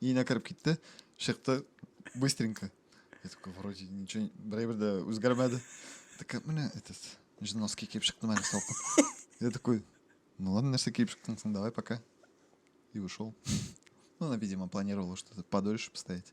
Өенә кереп китте, чыкты быстренько. Я такой, вроде ничего, берәй бер дә үзгәрмәде. Такая, менә этот, носки киеп чыктым әле салкын. Я такой, ну ладно, нәрсә киеп чыктың соң, давай пока. И ушел. Ну, она, видимо, планировала что-то подольше постоять.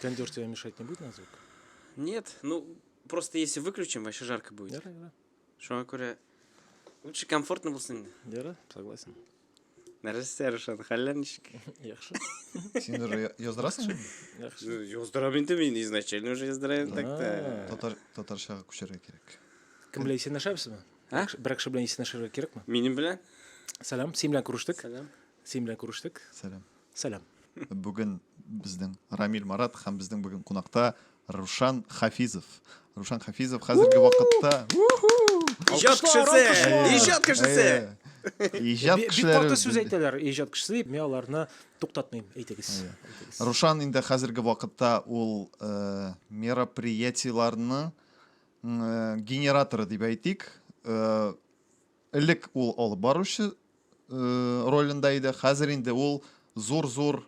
Кондер тебе мешать не будет на звук? Нет, ну просто если выключим, вообще жарко будет. Яра, яра. Шуңа күрә лучше комфортно булсын инде. Яра, согласен. Нәрсә, Рушан, хәлләр ничек? Яхшы. Син уже яздырасың? Яхшы. Яздырам инде мин изначально уже яздырам так та. Татар татарчага күчәргә кирәк. Кем белән исәнләшәбезме? Ә? Бер кеше белән исәнләшергә кирәкме? Минем белән? Сәлам, син белән күрештек. Сәлам. Син белән күрештек. Сәлам. Сәлам. Бүген безнең Рамил Марат һәм безнең бүген кунакта Рушан Хафизов. Рушан Хафизов хәзерге вакытта Иҗат кешесе! Иҗат кешесе! Иҗат кешеләре. Бик каты сүз әйтәләр иҗат кешесе, мин аларны туктатмыйм, әйтегез. Рушан инде хәзерге вакытта ул мероприятиеләрне Э, генераторы дип әйтик э, элек ул алып баручы э, ролендә иде хәзер инде ул зур зур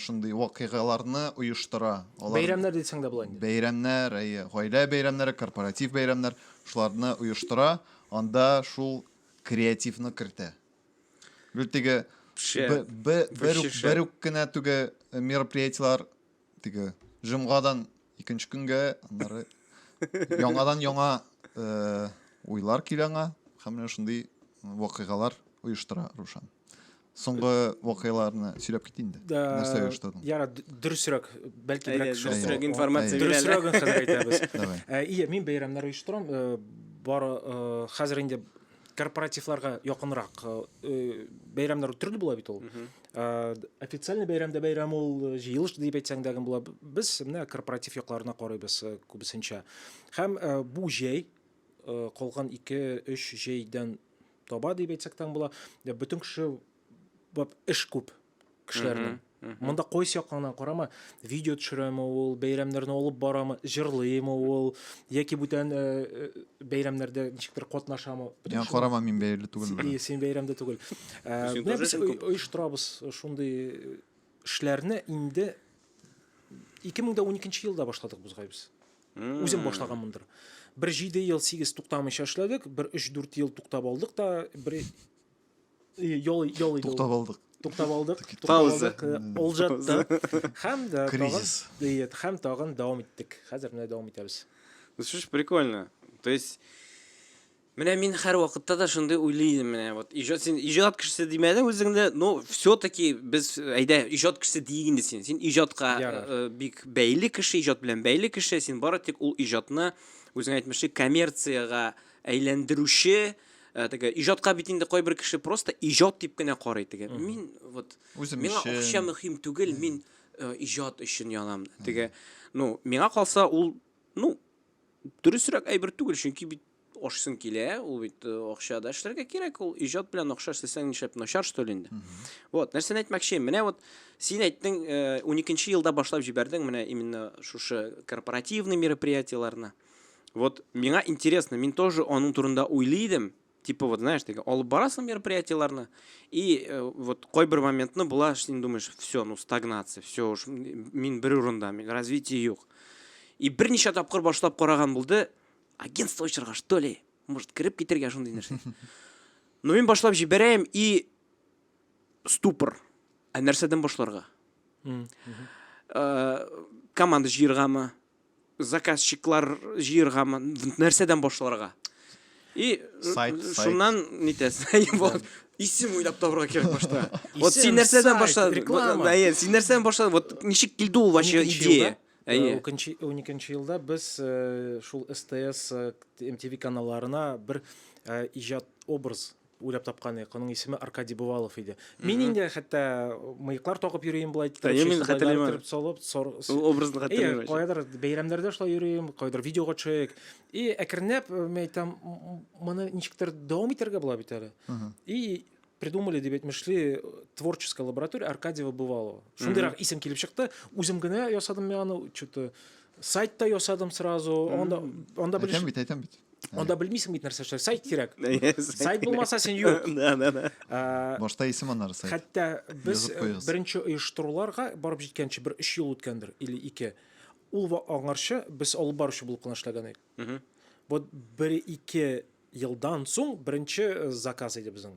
шундый вакыйгаларны оештыра Алар... бәйрәмнәр дисең дә була инде бәйрәмнәр әйе гаилә бәйрәмнәре корпоратив бәйрәмнәр шуларны оештыра анда шул креативны кертә гел теге бер үк кенә түге мероприятиелар теге җомгадан икенче көнгә аннары яңадан яңа э, уйлар килә аңа һәм менә шундый вакыйгалар оештыра Рушан. Соңгы вакыйгаларны сөйләп кит инде. Нәрсә оештырдың? Яра, дөресрәк, бәлки берәк шулсрәк информация бирә. Дөресрәк хәзер әйтәбез. Ия, мин бәйрәмнәр оештырам. Э, бар э, хәзер инде корпоративларга якынрак э, э, бәйрәмнәр төрле була бит ул э, официальный бәйрәмдә бәйрәм ул җыелыш дип әйтсәң дә була без менә корпоратив якларына карыйбыз күбесенчә һәм бу җәй калган ике өч җәйдән таба дип әйтсәк тә була бөтен кеше бап эш күп кешеләрнең монда кайсы яктан карама видео төшерәме ул бәйрәмнәрне алып барамы җырлыймы ул яки бүтән э, э, бәйрәмнәрдә ничектер катнашамы миңа карама мин бәйле түгел син бәйрәмдә түгел э, без оештырабыз шундый эшләрне инде 2012 елда башладык бозгай без үзем башлаганмындыр бер җиде ел сигез туктамыйча эшләдек бер өч дүрт ел туктап алдык та бер Ял ял иде. Туктап алдык. Туктап алдык. Пауза. Ул жатты. Һәм дә кризис. Диет, һәм тагын дәвам иттек. Хәзер менә дәвам итәбез. Ну что ж прикольно. То есть Менә мин һәр вакытта да шундый уйлый идем менә вот иҗат син иҗат кешесе димәдең үзеңне но все таки без әйдә иҗат кешесе дийик инде син син иҗатка э, бик бәйле кеше иҗат белән бәйле кеше син бары тик ул иҗатны үзең әйтмешли коммерцияга әйләндерүче Ә, теге иҗатка бит инде кайбер кеше просто иҗат дип кенә карый теге. Мин вот Үзем миңа өчен. акча мөһим түгел, мин э, иҗат өчен язам. Теге, ну, миңа калса ул, ну, дөресрәк әйбер түгел, чөнки бит ашсың килә, ул бит э, акча да эшләргә кирәк, ул иҗат белән акча эшләсәң нишләп начар что ли инде. Вот, нәрсәне әйтмәкче, менә вот син әйттең, э, 12 елда башлап җибәрдең менә именно шушы корпоративный мероприятиеләрне. Вот миңа интересно, мин тоже аның турында уйлый идем. Типа вот, знаешь, теге алып барасың мероприятиеләрне, и э, вот кайбер моментны була, син думаешь, все, ну стагнация, все уж мин бер урында, мин развитие юк. И берничә тапкыр башлап караган булды, агентство очырга, что ли? Может, кереп китергә шундый нәрсә. Ну мин башлап җибәрәем и ступор. Ә нәрсәдән башларга? Э, команда җыергамы? заказчиклар җыергамы, нәрсәдән башларга? И сайт, шуннан нитәсең? Вот исем уйлап табырга кирәк башта. Вот син нәрсәдән башладың? Реклама. Әйе, син нәрсәдән башладың? Вот ничек килде ул вообще идея? Әйе. 12 елда без э, шул СТС, MTV э, каналларына бер э, иҗат образ Уйлап тапканыйк, аның исеме Аркадий Бывалов иде. Мин инде хәтта мыеклар тагып йөрим бул әйтте. Әйе, мин хәтерлим. Торып салып, сор. Ул образны хәтерлим. Әйе, кайдыр бәйрәмнәрдә шулай йөрим, кайдыр видеога төшәек. И әкренләп мин әйтәм, моны ничектер дәвам итәргә була бит әле. И придумали дип әйтмешли творческая лаборатория Аркадьева Бывалова. Шундыйрак исем килеп чыкты. Үзем генә ясадым мин аны, что-то сайтта ясадым сразу. Анда анда белеш. Әйтәм бит, әйтәм бит. Анда белмисең бит нәрсә эшләр. Сайт кирәк. Сайт булмаса син юк. Да, да, да. Э, Башта исем аннары сайт. Хәтта без э, беренче оештыруларга барып җиткәнче бер 3 ел үткәндер или 2. Ул аңарчы без алып баручы булып кына эшләгән идек. Вот бер ике елдан соң беренче э, заказ иде безнең.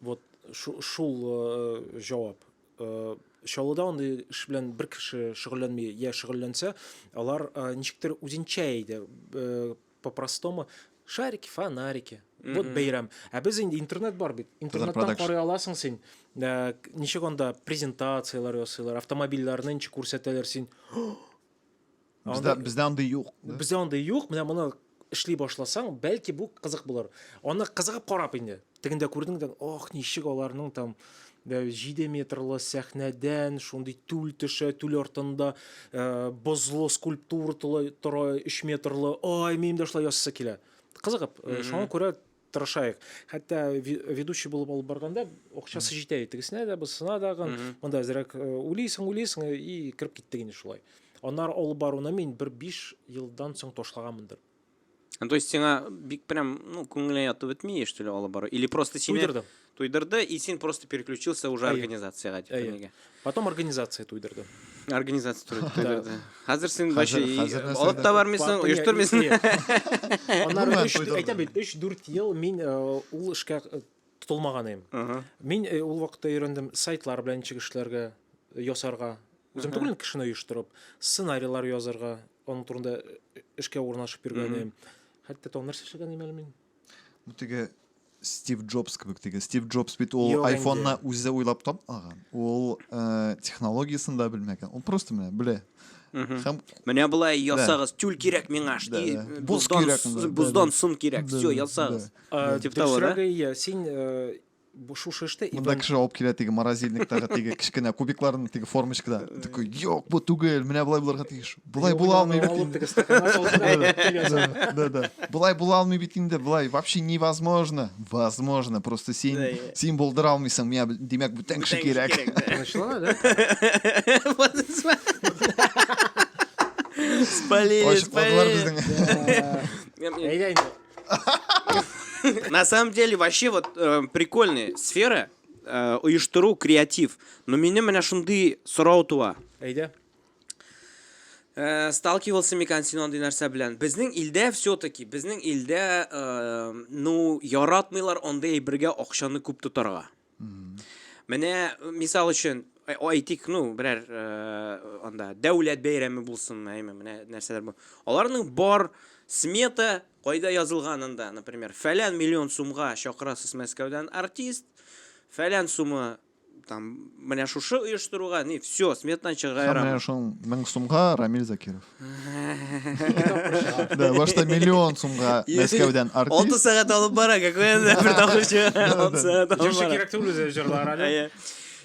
Вот шул э, җавап. Э, Чаллыда андый эш белән бер кеше шөгыльләнми, я шөгыльләнсә, алар э, ничектер үзенчә иде. Э, По-простому шарики, фонарики. Вот бәйрәм. Ә без инде интернет бар бит. Интернеттан карый аласың син. Э, Ничек анда презентацияләр ясыйлар, автомобильләрне ничек күрсәтәләр син. Бездә бездә андый юк. Бездә андый юк. Менә моны эшли башласаң, бәлки бу кызык булыр. Аны кызыгып карап инде. Тегендә күрдең дә, ох, ничек аларның там 7 метрлы сәхнәдән шундый түл төшә, түл артында э, бозлы скульптура тора 3 метрлы. Ай, минем дә шулай ясасы килә. Кызыгып, э, шуңа күрә тырышайык хәтта ведущий булып алып барганда акчасы җитә тегесенә дә бусына дагы монда әзрәк э, уйлыйсың уйлыйсың э, и кереп киттек инде шулай анар алып баруны мин бер биш елдан соң ташлаганмындыр ну, то есть сиңа бик прям ну күңелеңә ятып бетми что ли алып бару или просто сине туйдырдым Туйдырды, и син просто переключился уже организацияга дип нигә. Потом организация туйдырды. Организация туйдырды. Хәзер син вообще алып та бармыйсың, оештырмыйсың. Аннары 3 әйтә бит, 3-4 ел мин э, ул эшкә э, тотылмаган идем. Мин э, ул вакытта өйрәндем сайтлар белән ничек эшләргә, ясарга. Үзем түгел кешене оештырып, сценарийлар язарга, аның турында эшкә урнашып йөргән идем. Хәтта тон нәрсә эшләгән идем әле мин. Бу теге Стив Джобс кебек теге. Стив Джобс бит ул Юк айфонны инде. үзе уйлап тапмаган. Ул э, технологиясен дә белмәгән. Ул просто менә белә. Һәм Менә былай ясагыз, тюль кирәк миңа, Да, шти, да. Боз боздан, кирәк, с- да, да, боздан да. сын кирәк, Да, все, да, ясагыз. да. Э, Тип того, да? дөресрәге, иә, син э, бу шушы эштә и Монда кеше алып килә теге морозильниктагы теге кечкенә кубикларны теге формочкада. Такой, юк, бу түгел, менә болай булырга тиеш. Болай була алмый бит инде. Да, да. Болай була алмый бит инде, болай вообще невозможно. Возможно, просто син син булдыра алмыйсың, миңа димәк бүтән кеше кирәк. Тынычлана, да? Спалили, спалили. Әйдә инде. На самом деле, вообще вот э, прикольная сфера э, оештыру, креатив. Но меня менә шундый сорау туа. Әйдә. Э, сталкивался микан син андый нәрсә белән безнең илдә все таки безнең илдә э, ну яратмыйлар андый әйбергә акчаны күп тотарга Менә мисал өчен әйтик, ну, берәр анда дәүләт бәйрәме булсын, әйме, менә нәрсәләр бу. Аларның бар смета кайда язылган анда, например, фәлән миллион сумга чакырасыз Мәскәүдән артист, фәлән сумы там менә шушы оештыруга, не, все, сметадан чыгара. Менә шул 1000 сумга Рамил Закиров. Да, башта миллион сумга Мәскәүдән артист. Алты сәгать алып бара, какой это бер тамаша. Алты сәгать алып Җырчы бара. кирәк түгел үзе җырлар әле. Әйе.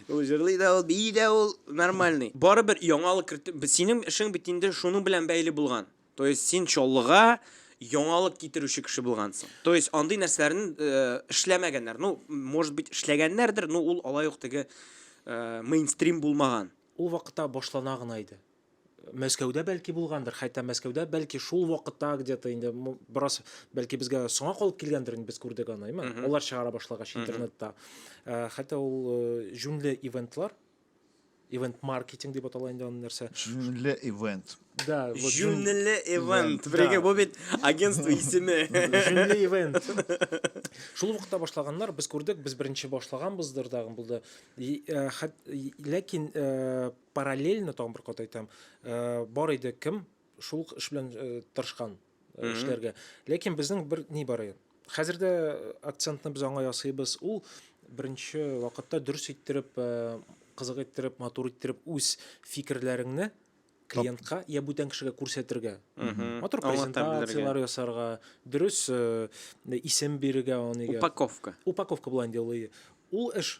Ул җырлый да ул, бии дә ул, нормальный. Барыбер яңалык керт... Синең эшең бит инде шуның белән бәйле булган. То есть син Чаллыга яңалык китерүче кеше булгансың. То есть андый нәрсәләрне э, эшләмәгәннәр. Ну, может быть, эшләгәннәрдер, но ул алай ук теге э, мейнстрим булмаган. Ул вакытта башлана гына иде. Мәскәүдә бәлки булгандыр, хәтта Мәскәүдә бәлки шул вакытта где-то инде бераз бәлки безгә соңа калып килгәндер инде без күрдек аны, әйме? Алар чыгара башлагач интернетта. Э, хәтта ул э, җүнле ивентлар, ивент маркетинг дип атала инде аны нәрсә. Җүнле ивент. Да, вот Җүнле ивент. Бергә бу бит агентство исеме. Җүнле ивент. Шул вакытта башлаганнар, без күрдек, без беренче башлаганбыздыр да, булды. Э, ләкин параллельно тагын бер кат әйтәм э, бар иде кем шул ук эш белән э, тырышкан э, эшләргә ләкин безнең бер ни бар иде хәзер дә акцентны без аңа ясыйбыз ул беренче вакытта дөрес иттереп э, кызык иттереп матур иттереп үз фикерләреңне клиентка я бүтән кешегә күрсәтергә матур презентациялар ясарга дөрес э, исем бирергә упаковка упаковка булайын ди ул эш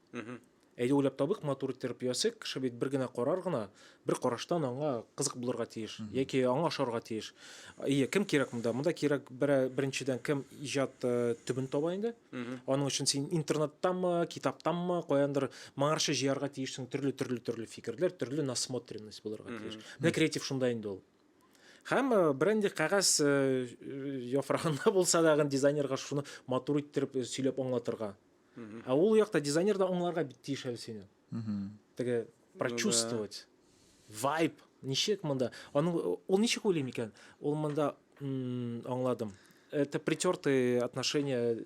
Әйдә уйлап табыйк, матур иттереп ясыйк. Кеше бит бер генә карар гына, бер караштан аңа кызык булырга тиеш, яки аңа ошарга тиеш. Ие, кем кирәк монда? Монда кирәк беренчедән кем иҗат э, төбен таба инде. Аның өчен син интернеттамы, китаптамы, каяндыр моңарча җыярга тиешсең төрле төрле төрле фикерләр, төрле насмотренность булырга тиеш. Менә креатив шунда инде ул. Һәм э, бренди кәгазь э, яфрагында булса дагы дизайнерга шуны матур иттереп сөйләп аңлатырга. А ул якта дизайнер да аңларга бит тиеш әле сине. Теге прочувствовать. Вайб. Ничек монда? Аның ул ничек уйлый микән? Ул монда аңладым. Это притертые отношения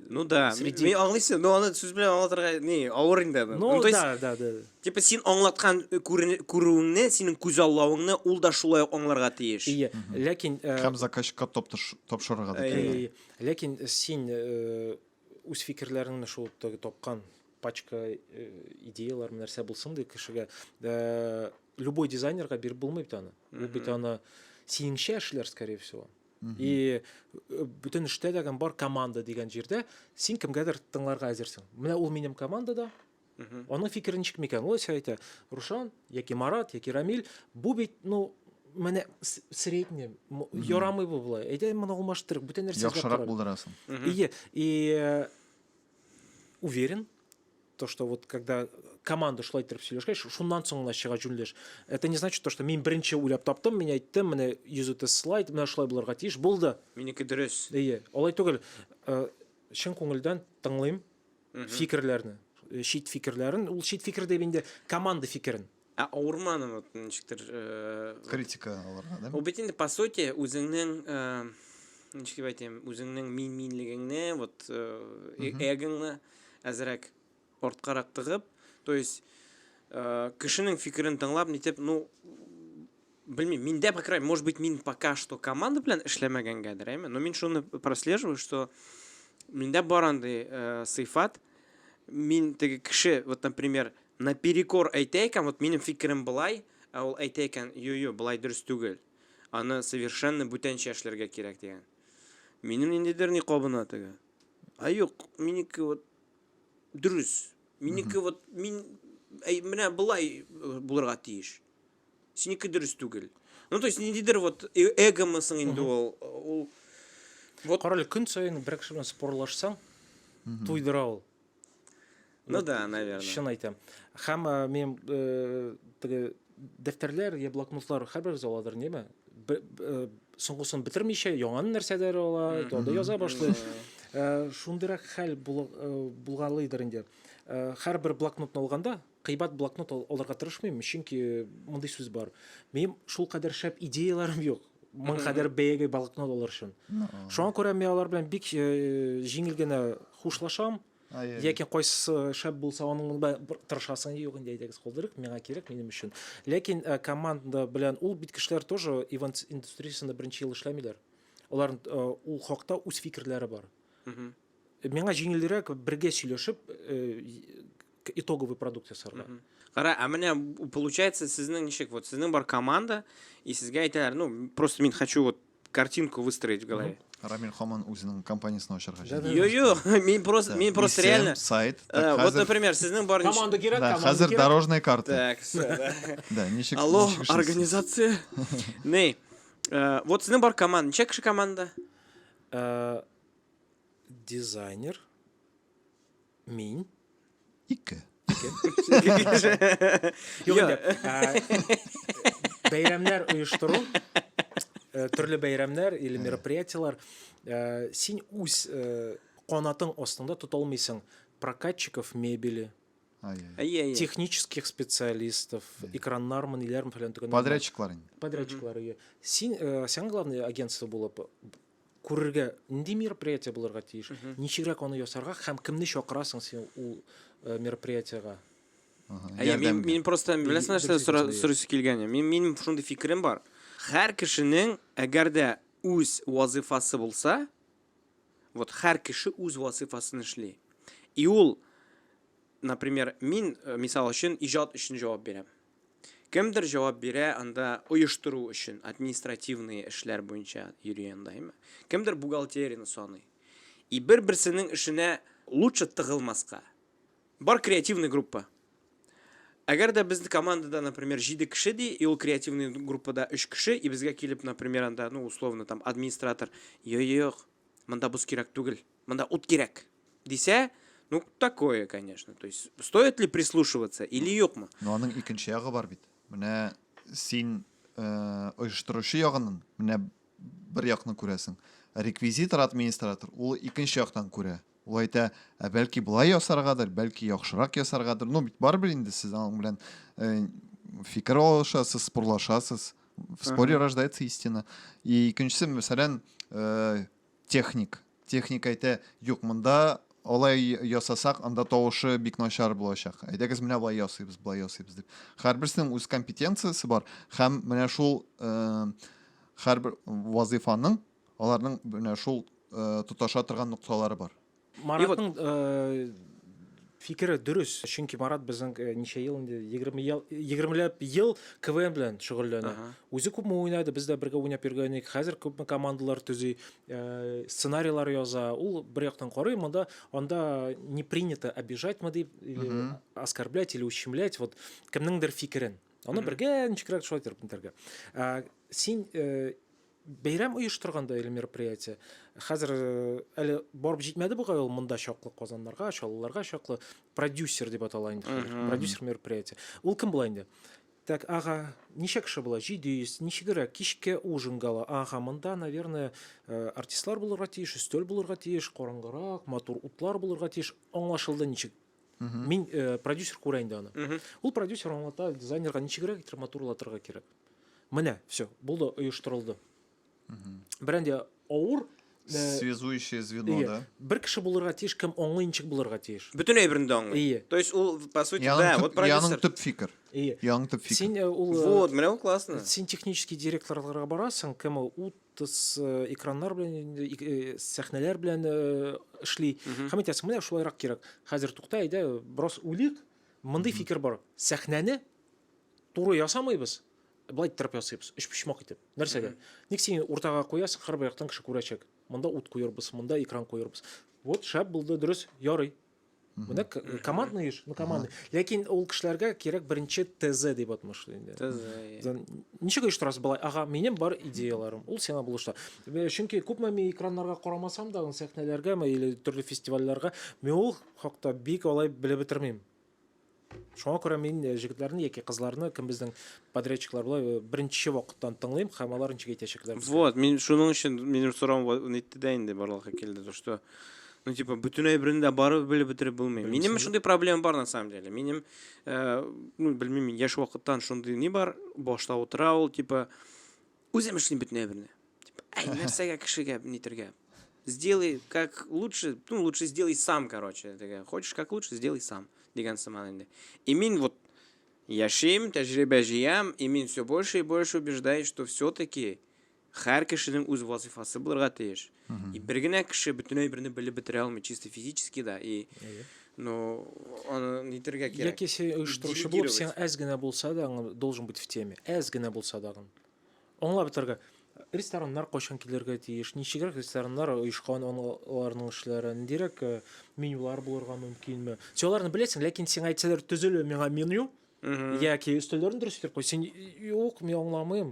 Ну да, среди... мен аңлыйсың, но аны сүз белән аңлатырга не, авыр инде. Ну, ну то есть, да, да, да. Типа син аңлаткан э, күрүеңне, синең күз аллавыңны ул да шулай ук аңларга тиеш. Ие, ләкин... Э, Һәм заказчикка тапшырырга да тиеш. Ләкин син э, үз фикерләреңне шул теге тапкан пачка э, идеялар нәрсә булсын ди кешегә э, любой дизайнерга биреп булмый бит аны ул бит аны синеңчә эшләр скорее всего и э, бөтен эштә дәгән бар команда дигән җирдә син кемгәдер тыңларга әзерсең менә ул минем командада Аның фикере ничек микән? Ул әйтә, әйтә, Рушан, яки Марат, яки Рамиль, бу бит, ну, менә средний, ярамый бу болай. Әйдә, моны алмаштырыйк, бүтән нәрсә эзләп Яхшырак булдырасың. И, и э, уверен, то, что вот когда команда шулай иттереп сөйләшкәч, шуннан соң гына чыга җүнлеш. Это не значит то, что мин беренче уйлап таптым, мин әйттем, менә йөзүте слайд, менә шулай булырга тиеш, булды. Минеке дөрес. Әйе, алай түгел. Э, чын күңелдән тыңлыйм, фикерләрне чит фикерләрен ул чит фикер дип инде команда фикерен ә авырманы вот ничектер критика алырга да ул бит инде по сути үзеңнең ничек дип әйтәм үзеңнең мин минлегеңне вот эгоңны әзрәк арткарак тыгып то есть кешенең фикерен тыңлап нитеп ну Белмим, миндә, по крайней может быть, мин пока что команда белән эшләмәгәнгәдер, әйме, но мин шуны прослеживаю, что миндә бар андый э, сыйфат, мин теге кеше, вот, например, наперекор әйтә икән, вот минем фикерем былай, ә ул әйтә икән, йо-йо, былай дөрес түгел. Аны совершенно бүтәнчә эшләргә кирәк дигән. Минем ниндидер ни кабына теге. А юк, минеке вот дөрес. Минеке вот мин әй, менә былай э, булырга тиеш. Синеке дөрес түгел. Ну, то есть, ниндидер вот э- эгомысың инде ул. Ул Вот. Карале, көн саен бер кеше белән спорлашсаң, туйдыра ул. Ну да, наверное. Чын әйтәм. Һәм э, минем э, теге дәфтәрләр я блокнотлар һәрберебез аладыр, неме? Бе- б- э, Соңгысын бетермичә, яңаны нәрсәдер ала, анда яза башлый. Э, Шундыйрак хәл була- э, булгалыйдыр инде. Э, Һәрбер блокнотны алганда, Кыйбат блокнот алырга тырышмыйм, чөнки мондый сүз бар. Минем шул кадәр шәп идеяләрем юк. Моң кадәр бәягә блокнот алыр өчен. Шуңа күрә мин алар белән бик э, җиңел генә хушлашам. Яки кайсысы шәп булса, аның белән тырышасың, юк инде әйдәгез калдырыйк, миңа кирәк, минем өчен. Ләкин э, команда белән ул бит кешеләр тоже ивент индустриясендә беренче ел эшләмиләр. Алар э, ул хакта үз фикерләре бар. Миңа җиңелрәк бергә сөйләшеп итоговый продукт ясарга. Кара, а менә получается сезнең ничек? Вот сезнең бар команда, и сезгә әйтәләр, ну, просто мин хочу вот картинку выстроить в голове. Рамиль Хоман үзенең компаниясен ачарга җыена. Йо, йо, мин просто мин просто реально сайт. Э, вот, например, сезнең бар команда кирәк, команда кирәк. Хәзер дорожная карта. Так, все. Да, ничек? Алло, организация. Не. Э, вот сезнең бар команда, ничек кеше команда? Э, Дизайнер. Мин. Ике. Юк инде. Бәйрәмнәр оештыру, э, төрле бәйрәмнәр или мероприятиелар. Э, син үз э, канатың астында тота алмыйсың прокатчиков мебели, Әйе, технических специалистов, экраннар мы ниләр белән төгәннәр. Подрядчиклар инде. Подрядчиклар, әйе. Син, сиңа главное агентство булып күрергә нинди мероприятие булырга тиеш ничегрәк аны ясарга һәм кемне чакырасың син ул э, мероприятиега Әйе, мин, мин просто беләсең нәрсә сорыйсы килгән мин минем шундый фикерем бар һәр кешенең әгәр дә үз вазыйфасы булса вот һәр кеше үз вазыйфасын эшли и ул например мин э, мисал өчен иҗат өчен җавап бирәм Кемдер җавап бирә анда оештыру өчен, административные эшләр буенча йөри анда, әйме? Кемдер бухгалтерияне саный. И бер-берсенең эшенә лучше тыгылмаска, бар креативный группа. Әгәр дә без командада, например, 7 кеше ди, и ул креативный группада 3 кеше, и безгә килеп, например, анда, ну, условно, там, администратор, йо-йо-йо-йок, монда боз кирәк түгел, монда ут кирәк, дисә, ну, такое, конечно. То есть, стоит ли прислушиваться или юкмы? Ну, аның икенче ягы бар бит. Менә син э, оештыручы ягынын, менә бер якны күрәсең. Реквизитор, администратор, ул икенче яктан күрә. Ул әйтә, ә бәлки болай ясаргадыр, бәлки яхшырак ясаргадыр. Ну, бит барыбер инде сез аның белән э, фикер алышасыз, спорлашасыз. В споре рождается истина. И икенчесе, мәсәлән, э, Техник. Техник әйтә, юк, монда алай ясасак, анда тавышы бик начар булачак. Әйдәгез менә болай ясыйбыз, болай ясыйбыз дип. Һәрберсенең үз компетенциясе бар һәм менә шул һәрбер вазыйфаның аларның менә шул тоташа торган нокталары бар. Маратның э, фикере дөрес, чөнки Марат безнең э, ничә ел инде 20 ел 20 ләп ел КВН белән шөгыльләнә. Ага. Үзе күпме уйнады, без дә бергә уйнап йөргән идек. Хәзер күпме командалар төзи, э, сценарийлар яза. Ул бер яктан карый, монда анда не принято обижать мы дип, или оскорблять или ущемлять вот кемнеңдер фикерен. Аны бергә ничегрәк шулай итеп бетерергә. Ә, син э, Бәйрәм оештырганда әле мероприятие. Хәзер әле барып җитмәде бугай ул монда чаклы казаннарга, чаллыларга чаклы продюсер дип атала инде хәзер. Продюсер мероприятие. Ул кем була инде? Так, ага, ничә кеше була? 700. Ничегрәк кичке ужин гала. Ага, монда, наверное, артистлар булырга тиеш, өстәл булырга тиеш, караңгырак, матур утлар булырга тиеш. Аңлашылды ничек Мин э, продюсер күрә инде аны. Ул продюсер аңлата, дизайнерга ничегрәк итеп матурлатырга кирәк. Менә, все, булды, оештырылды. Бер инде авыр э, связующее звено, да? Бер кеше булырга тиеш, кем аңлый ничек булырга тиеш. Бөтен әйберне дә аңлый. Ие. То есть ул по сути, да, вот продюсер. Яның төп фикер. Ие. Яның төп фикер. Син э, ул Син технический директорларга барасың, кем ул тыс экраннар белән сәхнәләр белән эшли һәм әйтәсең менә шулайрак кирәк хәзер тукта әйдә бераз уйлыйк мондый фикер бар сәхнәне туры ясамыйбыз былай иттереп ясыйбыз өчпочмак итеп нәрсәгә ник син уртага куясың һәрбер яктан кеше күрәчәк монда ут куербыз монда экран куербыз вот шәп булды дөрес ярый Менә командный эш, ну командный. Ләкин ул кешеләргә кирәк беренче ТЗ дип атмышлый инде. ТЗ. Э. Ничек оештырасыз болай? Ага, минем бар идеяларым. Ул сиңа булышта. Э, чөнки күпме мин экраннарга карамасам да, сәхнәләргә или төрле фестивальләргә, мин ул хакта бик алай белеп бетермим. Шуңа күрә мин э, җегетләрне яки кызларны, кем безнең подрядчиклар була, э, беренче вакыттан тыңлыйм һәм алар ничек әйтәчәкләр безгә. Вот, мин шуның өчен минем сорауым ва- нитте дә инде барлыкка килде, то что ну типа бөтен әйберне дә барып белеп бетереп булмый. Белмисең Минем дә. шундый проблема бар на самом деле. Минем э, ну белмим, мин яшь вакыттан шундый ни бар, башта утыра ул типа Үзем эшлим бөтенләй берне. Әй, нәрсәгә кешегә нитергә? Сделай как лучше, ну, лучше сделай сам, короче. Дигән. Хочешь как лучше, сделай сам. Дигән сыман инде. И мин вот яшим, тәҗрибә җыям, и мин все больше и больше убеждаюсь, что все-таки һәр кешенең үз вазифасы булырга тиеш. Угу. И бер генә кеше бөтен әйберне белеп бетерә алмый, чисто физически да. И Әйе. но аны нитергә кирәк. Яки син оештыручы булып, син әз генә булса да, должен быть в теме. Әз генә булса да. Аңлап бетерергә. Рестораннар кайчан килергә тиеш, ничегрәк рестораннар оешкан, аларның эшләре, ниндирәк э, менюлар булырга мөмкинме? Син аларны беләсең, ләкин сиңа әйтсәләр, төзеле миңа меню, яки өстәлләрен дөрес итеп куй син юк мин аңламыйм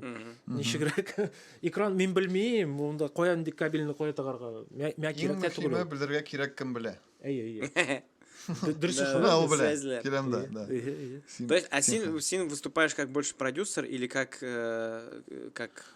ничегрәк экран мин белмим монда кая нинди кабельны кая тагарга миңа кирәк тә түгел белергә кирәк кем белә әйе әйе Дөрес ул белә. Келәмдә, да. То есть, а син, син выступаешь как больше продюсер или как, э, как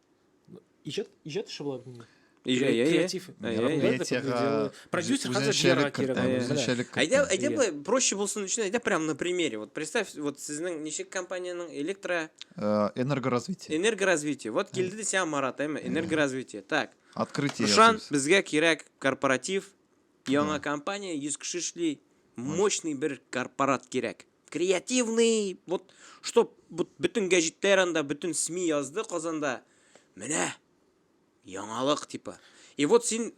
Иҗат иҗат эше була бит инде. Иҗа, иә, иә. Креатив. Иә, иә. Ярымгүләр дә күпме Медиага дело. Продюсер үзен- хәзер үзенчәлек Вера кертә, кирәк. Менә. үзенчәлек кертә. Әйдә, әйдә Иә. былай, проще булсын өчен, әйдә прям на примере. Вот представь, вот сезнең ничек компаниянең электро Э, Энергоразвитие. энергоразвитие. Вот килде дә сиңа Марат, әйме? Энергоразвитие. Так. Открытие. Ышан, ясыйбыз. безгә кирәк корпоратив, яңа компания, 100 кеше эшли, мощный бер корпорат кирәк. креативный, вот, чтоб вот, бөтен гәҗитләр анда, бөтен СМИ язды Казанда. Менә яңалык типа. И вот син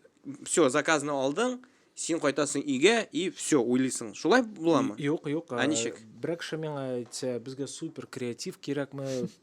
все, заказны алдың, син кайтасың өйгә и все, уйлыйсың. Шулай буламы? Юк, юк. Ә ничек? Берәк кеше миңа әйтсә, безгә супер креатив кирәкме,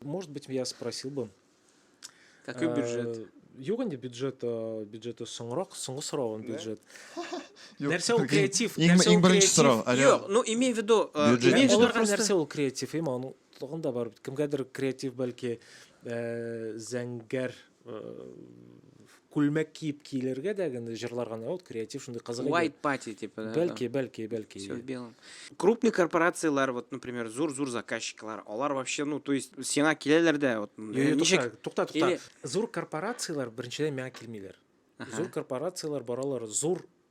Может быть, я спросил бы. Какой бюджет? Юк инде бюджет, бюджеты соңрак, соңгы сораган бюджет. Нәрсә ул креатив? Нәрсә ул креатив? Юк, ну имей в виду, имей в виду нәрсә ул креатив, именно тагын да бар. Кемгәдер креатив бәлки зәңгәр күлмәк киеп килергә дә генә җырларга вот креатив шундый кызык white party типа да бәлки бәлки бәлки все в белом крупный корпорацияләр вот например зур зур заказчиклар алар вообще ну то есть сиңа киләләр дә вот ничек тукта тукта зур корпорацияләр беренчедән миңа килмиләр зур корпорацияләр баралар зур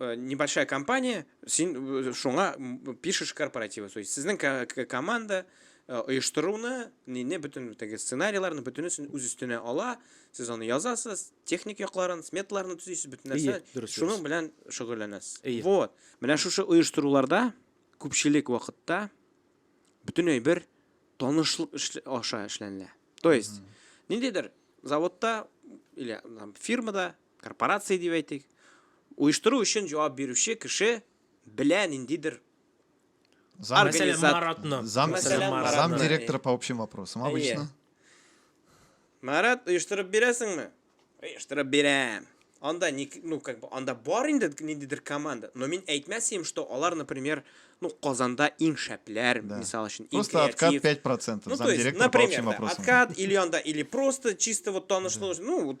Э, небольшая компания, син э, шуңа пишешь корпоративы. То есть сезнең команда э, оештыруны, не бөтен теге сценарийларны бөтенесен үз өстенә ала, сез аны язасыз, техник якларын, сметаларны төзисез, бөтен нәрсә. Шуның белән шөгыльләнәсез. Вот. Менә шушы оештыруларда күпчелек вакытта бөтенләй бер танышлык аша эшләнелә. То есть, ниндидер заводта или фирмада корпорация дип әйтик, оештыру өчен җавап бирүче кеше белә ниндидер Зам, Мәсәлән, Организат- Маратны. зам, Мәсәлән, зам Маратны. директора по общим вопросам обычно. Марат, оештырып бирәсеңме? Оештырып бирәм. Анда ни, ну, как бы, анда бар инде ниндидер команда. Но мин әйтмәс идем, что алар, например, ну, Казанда иң шәпләр, Да. мисал өчен, иң Просто откат креатив. 5%. Ну, зам то есть, директора по общим например, да, вопросам. откат или анда, или просто чисто вот танышлык, ну, вот,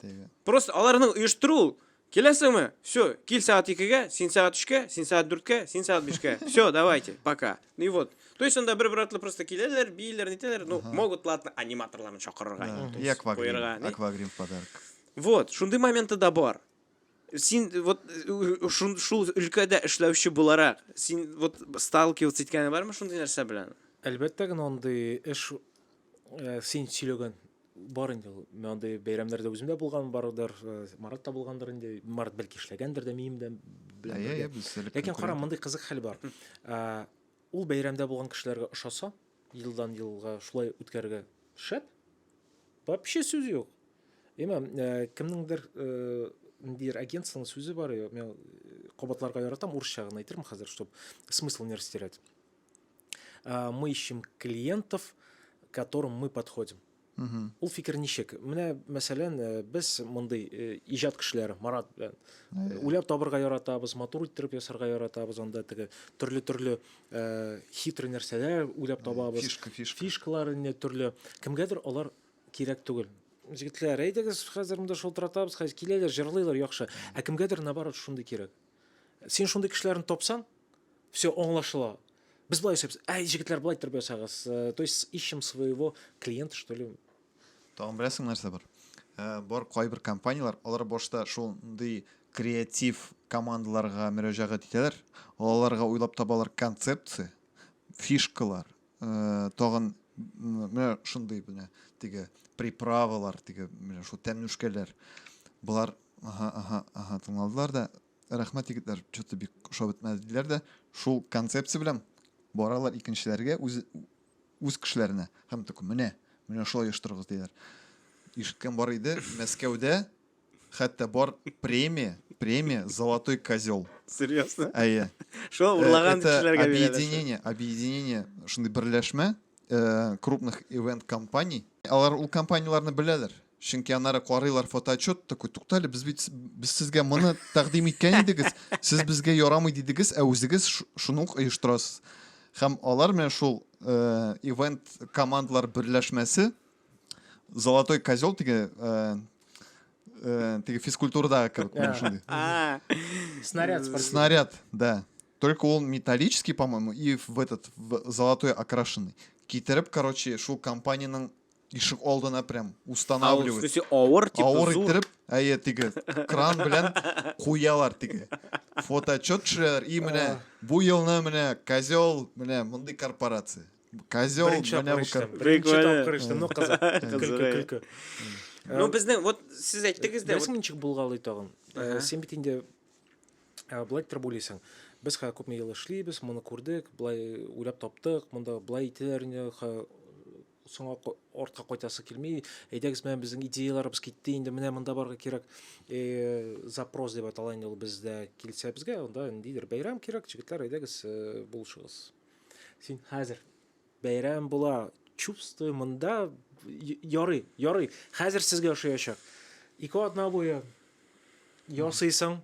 Теге. Просто аларның оештыру ул. Киләсеңме? Все, кил сәгать икегә, син сәгать өчкә, син сәгать дүрткә, син сәгать бишкә. Все, давайте, пока. Ну и вот. То есть анда бер-бер артлы просто киләләр, бииләр, нитәләр. Ну, Ага. могут, ладно, аниматорларны чакырырга. Да, инде, то И есть аквагрим. куярга, ни. Аквагрим в подарок. Вот, шундый моменты да бар. Син э, вот э, у- шун- шул өлкәдә эшләүче буларак, син вот сталкиваться иткәне бармы шундый нәрсә белән? Әлбәттә генә андый эш э, син сөйләгән Бар инде ул. Мен андый бәйрәмнәрдә үзем дә булган бардыр, э, Марат та булгандыр инде. Марат бәлки эшләгәндер дә мием дә белән Әйе, әйе, без элек Ләкин кара, мондый кызык хәл бар. Э, Ул бәйрәмдә булган кешеләргә ошаса, елдан елга шулай үткәрергә шәп. Вообще сүз юк. Әмма э, кемнеңдер э, ниндидер агентствоның сүзе бар, я- мен э, кабатларга яратам, урысча гына әйтермен хәзер, чтобы смысл не растерять. ә, мы ищем клиентов, которым мы подходим. Угу. Ул фикер ничек? Менә, мәсәлән, э, без мондый э, иҗат кешеләре Марат белән э, уйлап табырга яратабыз, матур иттереп ясарга яратабыз, анда теге төрле-төрле э, хитрый нәрсәләр уйлап табабыз. Фишка, фишка. Фишкалар инде төрле. Кемгәдер алар кирәк түгел. Җегетләр, әйдәгез, хәзер монда шылтыратабыз, хәзер киләләр, җырлыйлар яхшы. Ә кемгәдер наоборот шундый кирәк. Син шундый кешеләрне тапсаң, все аңлашыла. Без болай ясайбыз. Әй, җегетләр, болай иттереп ясагыз. Э, то есть ищем своего клиента, что ли. Тагын беләсең нәрсә бар? Э, бар кайбер компанияләр, алар башта шундый креатив командаларга мөрәҗәгать итәләр. Аларга уйлап табалар концепция, фишкалар, Э, тагын менә шундый менә теге приправалар теге менә шул тәмнүшкәләр болар ага ага ага тыңладылар да рәхмәт егетләр че то бик ошап бетмәде диләр дә шул концепция белән баралар икенчеләргә үз үз кешеләренә һәм такой менә менә шулай оештырыгыз диләр ишеткән бар иде мәскәүдә Хәтта бар премия, премия Золотой козел. Серьезно? Әйе. Шул э, урлаган кешеләргә бирәләр. Объединение, объединение шундый берләшмә э, крупных ивент компаний. Алар ул компанияләрне беләләр. Чөнки аннары карыйлар фотоотчет такой, туктале, без бит без сезгә моны тәкъдим иткән идегез, сез безгә ярамый дидегез, ә үзегез шуны ук оештырасыз. Һәм алар менә шул э, ивент командалар берләшмәсе золотой козел теге ә, ә, теге физкультурадағы кебек менә шундый А, Снаряд спортивный. снаряд да только он металлический по моему и в этот в золотой окрашенный китереп короче шул компаниянең ишек алдына прям а ул, в устанавливать смысле, авыр, типа, авыр зур. иттереп әйе теге кран белән куялар теге фотоотчет төшерәләр и менә бу елны менә козел менә мондый корпорация Козел, Беренче менә бу тапкыр кер... Беренче Прикольно. тапкыр эчтем, ну кызык. Кызык, Көлке, э. көлке. Ну безнең вот сез әйттегез дә. Нәрсә ничек булгалый тагын? Э, син бит инде э, былай торып уйлыйсың. Без хә күпме ел эшлибез, моны күрдек, былай уйлап таптык, монда былай итәләр инде, соңа артка кайтасы килми әйдәгез менә безнең идеяларыбыз китте инде менә монда барырга кирәк э, запрос дип атала инде ул бездә килсә безгә анда ниндидер бәйрәм кирәк җегетләр әйдәгез э, булышыгыз Син хәзер бәйрәм була, чувствую, монда ярый, ярый. Хәзер сезгә ошаячак. Ике атна буе ясыйсың,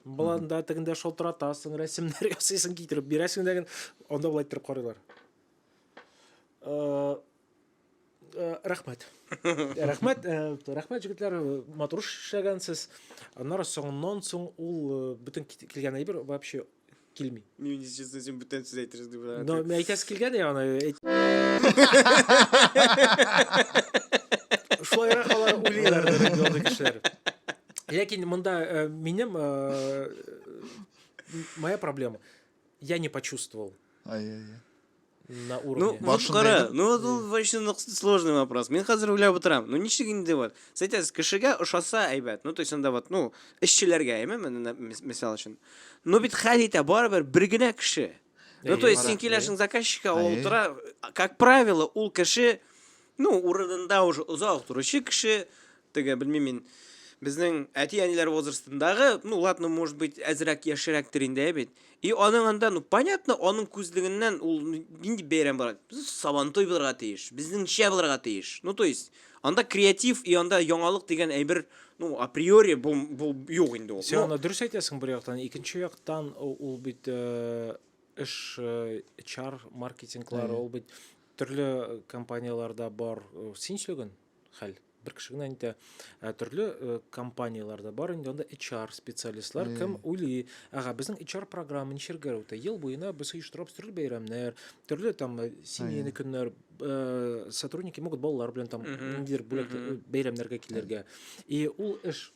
боланда тегендә шалтыратасың, рәсемнәр ясыйсың, китереп бирәсең дә, анда болай иттереп карыйлар. Э, Э, рәхмәт рәхмәт э, рәхмәт җегетләр матур эшләгәнсез аннары соңыннан соң ул э, бөтен килгән әйбер вообще килми мин честно син бүтән сүз әйтерсез дип но мин әйтәсе килгән я аны шулайрак алар уйлыйлар андый кешеләр ләкин монда минем моя проблема я не почувствовал ай ай на уровне. Ну, вот кара, ну вот ул вообще сложный вопрос. Мин хәзер уйлап утырам. Ну ничек инде вот? Сайтас кешегә ошаса әйбәт. Ну то есть анда вот, ну, эшчеләргә, әйме, мисал өчен. Ну бит хәл итә барыбер бер генә кеше. Ну то есть син киләшең заказчикка, ул утыра, как правило, ул кеше Ну, урынында уже озак торучы кеше, теге, белмим мин, безнең әти-әниләр возрастындагы, ну, ладно, может быть, әзрәк яшерәктер инде, бит. И аның анда, ну, понятно, аның күзлегеннән ул нинди бәйрәм бар? Сабантой булырга тиеш, безнеңчә булырга тиеш. Ну, то есть, анда креатив и анда яңалык дигән әйбер ну, априори бу, бу юк инде ул. Сен аны дөрес әйтәсең бер яктан, икенче яктан ул бит э, эш э, чар маркетинглары, ул бит Төрле компанияләрдә бар син сөйләгән хәл бер кеше генә әйтә ә төрле э, компанияләрдә бар инде анда HR специалистлар кем уйлый ага безнең HR программа ничергә үтә ел буена без оештырабыз төрле бәйрәмнәр төрле там э, семейный көннәр э, сотрудники могут балалар белән там ниндидер бүләк бәйрәмнәргә килергә и ул эш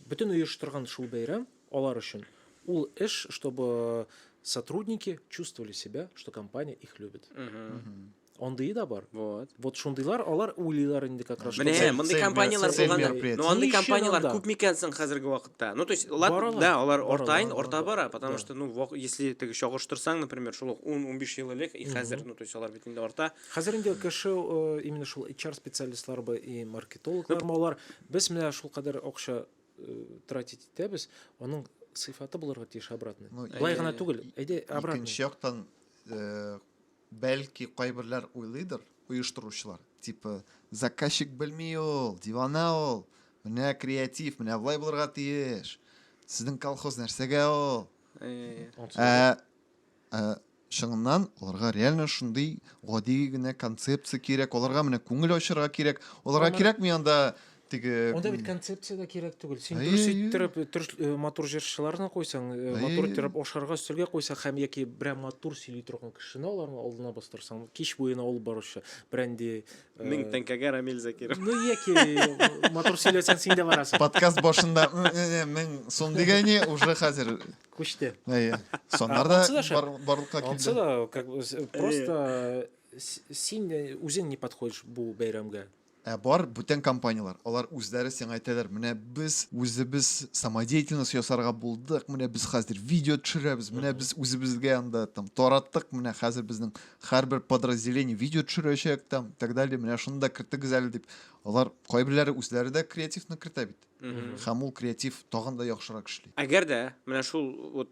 бөтен оештырган шул бәйрәм Алар өчен ул эш, чтобы сотрудники чувствовали себя, что компания их любит. Андые да бар. Вот. Вот шундыйлар, алар уйлыйлар инде как раз. Менә, мондый компанияләр булганда. Ну, андый компанияләр күп микән соң хәзерге вакытта? Ну, то есть, ладно, да, алар ортаен, орта бара, потому что, ну, если теге чагыштырсаң, например, шул 10-15 ел элек и хәзер, ну, то есть, алар бит инде орта. Хәзер инде кеше э, именно шул HR специалистлар бы и маркетологлар, алар без менә шул кадәр акча э, тратить итәбез, аның сыйфаты булырга тиеш обратный. Ну, Былай гына түгел, әйдә обратный. Икенче яктан, э, бәлки кайберләр уйлыйдыр, оештыручылар. Типа, заказчик белми ул, дивана ул. Менә креатив, менә былай булырга тиеш. Сезнең колхоз нәрсәгә ул? Ә, Ә чыннан аларга реально шундый гади генә концепция кирәк, аларга менә күңел ачырга кирәк, аларга кирәкми анда теге Анда бит концепция дә кирәк түгел. Син Әйе, дөрес әйе. иттереп, дөрес э, матур җырчыларны куйсаң, э, Әйе, матур әйе. иттереп ашарга өстәлгә куйсаң һәм яки берәр матур сөйли торган кешене аларның алдына бастырсаң, кич буена алып баручы, бренди. э, Мең тәңкәгә Рамил Закиров. Ну, яки матур сөйләсәң, син дә барасың. подкаст башында «М, м, м, мең сум дигәне уже хәзер күчте әйе саннар да барлыкка килде ансы да как бы просто син үзең не подходишь бу бәйрәмгә ә бар бүтән компаниялар алар үзләре сиңа әйтәләр менә без үзебез самодеятельность ясарга булдык менә без хәзер видео төшерәбез менә без үзебезгә анда там тараттык менә хәзер безнең һәрбер подразделение видео төшерәчәк там так далее менә шуны да кертегез әле дип алар кайберләре үзләре дә креативны кертә бит һәм ул креатив тагын да яхшырак эшли. Әгәр дә менә шул вот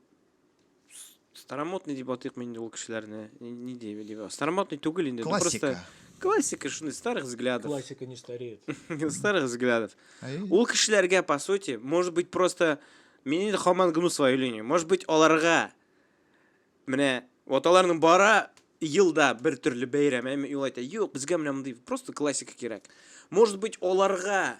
старомодный дип атыйк мин ул кешеләрне, ни дип дип. Старомодный түгел инде, классика. Классика шуны старых взглядов. Классика не стареет. Старых взглядов. Ул кешеләргә по сути, может быть просто мин инде хаман гну свою линию. Может быть аларга менә вот аларның бара елда бер төрле бәйрәм, әмма юлайта. Юк, безгә менә мондый просто классика кирәк. Может быть аларга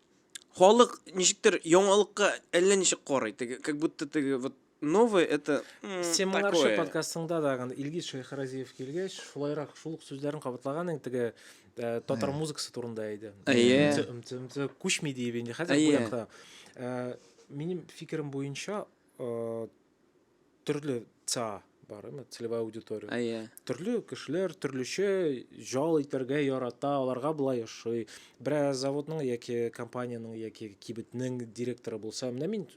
халык ничектер яңалыкка әллә ничек карый теге как будто теге вот новое это син моңарчы подкастыңда да илгиз шәйхразиев килгәч шулайрак шул ук сүзләрен кабатлаган инде теге э, татар э. музыкасы турында иде әйе күчми диеп инде хәзер бу якта э, минем фикерем буенча төрле ца бар ме целевая аудитория ә, yeah. төрле кешеләр төрлечә жал итәргә ярата аларга болай ошый берәр заводның яки компаниянең яки кибетнең директоры булса менә мин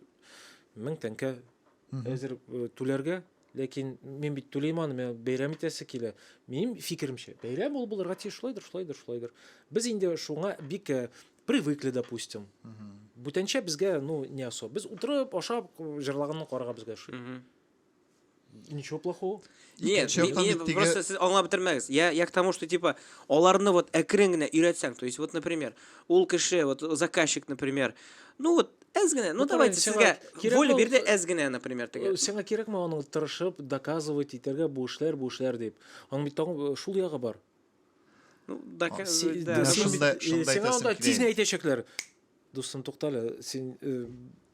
мең тәңкә әзер э, түләргә ләкин мин бит түлим аны миңа бәйрәм итәсе килә минем фикеремчә бәйрәм ул булырга тиеш шулайдыр шулайдыр шулайдыр без инде шуңа бик э, Привыкли, допустим. Бүтәнчә безгә, ну, не особо. Без утырып, ашап, җырлаганны карарга безгә ошый. Ничего плохого. Нет, Икенче яктан не, бит теге- просто сез аңлап бетермәгез. Я, я к тому, что типа аларны вот әкрен генә өйрәтсәң, то есть вот, например, ул кеше, вот заказчик, например, ну вот әз генә, ну, Ну, давайте правильно, сезгә сиңа кирәк воля бул- бирде әз генә, например, Э, теге. Сиңа кирәкме аның тырышып, доказывать итәргә бу эшләр, бу эшләр дип. Аның бит тагын э, шул ягы бар. Ну, да, а, си, да, да, шунда, шунда сиңа анда тиз әйтәчәкләр. Дустым, туктале, син э,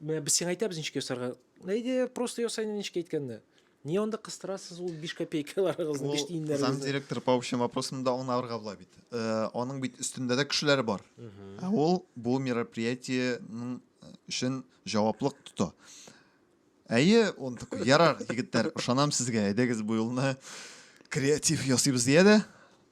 менә без сиңа әйтәбез ничек ясарга. Әйдә, просто ясай ничек әйткәнне. Не онда кыстырасыз ул 5 копейкаларыгызны, 5 тиеннәрегезне. Зам директор по общим вопросам да аңа арга була бит. Э, аның бит өстендә дә кешеләр бар. Ә ул бу мероприятиенең э, өчен җаваплык тота. Әйе, он такой, ярар, егетләр, ышанам сезгә, әйдәгез бу юлны креатив ясыйбыз дия дә,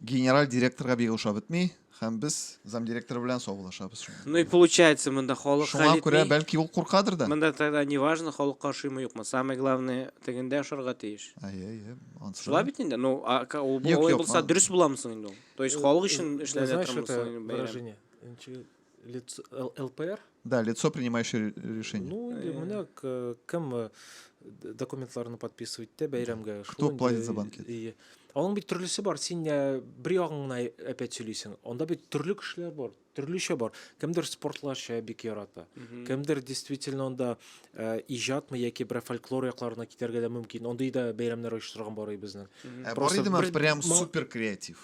генераль директорга бик ошап бетми, һәм без замдиректор белән саубуллашабыз. Ну и получается, монда халык хәл Шуңа күрә, бәлки ул куркадыр да. Монда тогда не важно, халык каршыймы юкмы, самое главное, тегендә ошарга тиеш. Әйе, әйе. Шулай бит инде, ну, а ул булса дөрес буламы соң инде ул? То есть халык өчен эшләнә торган соң бәйрәм. Лицо, ЛПР? Да, лицо, принимающее решение. Ну, э, менә э, кем э, документларны подписывать те бәйрәмгә. Кто платит за банкет? И... Аның бит төрлесе бар. Син бер ягың гына әпәт сөйлисең. Анда бит төрле кешеләр бар, төрлечә бар. Кемдер спортларча бик ярата. Кемдер действительно анда э, иҗатмы яки бер фольклор якларына китәргә дә мөмкин. Андый да бәйрәмнәр оештырган бар ай безнең. Ә бар идеме прям супер креатив.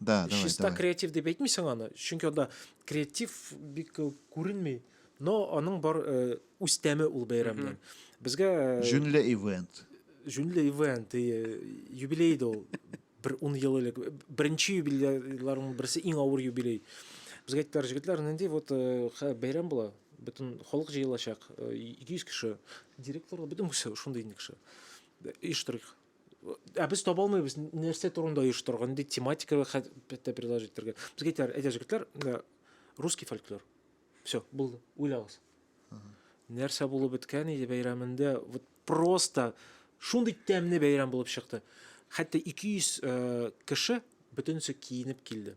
Да, давай, Чиста давай. креатив дип әйтмисең аны, чөнки анда креатив бик э, күренми, но аның бар э, үз тәме ул бәйрәмнең. Безгә э, Җүнле ивент. җүнле ивент, и, э, юбилей дә ул. Бер 10 ел элек беренче юбилейларның берсе иң авыр юбилей. Безгә әйттеләр, җегетләр, нинди вот э, хә- бәйрәм була, бөтен халык җыелачак, э, 200 кеше. Директор, бөтен кеше, шундый инде кеше. Оештырыйк. Ә без таба алмыйбыз, нәрсә турында оештырырга, нинди тематика хәтта предложить итәргә. Без әйтәр, әйтә җегетләр, русский фольклор. Все, булды, уйлагыз. Нәрсә булып беткән иде бәйрәмендә, вот просто шундый тәмле бәйрәм булып чыкты. Хәтта 200 э, кеше бөтенесе киенеп килде.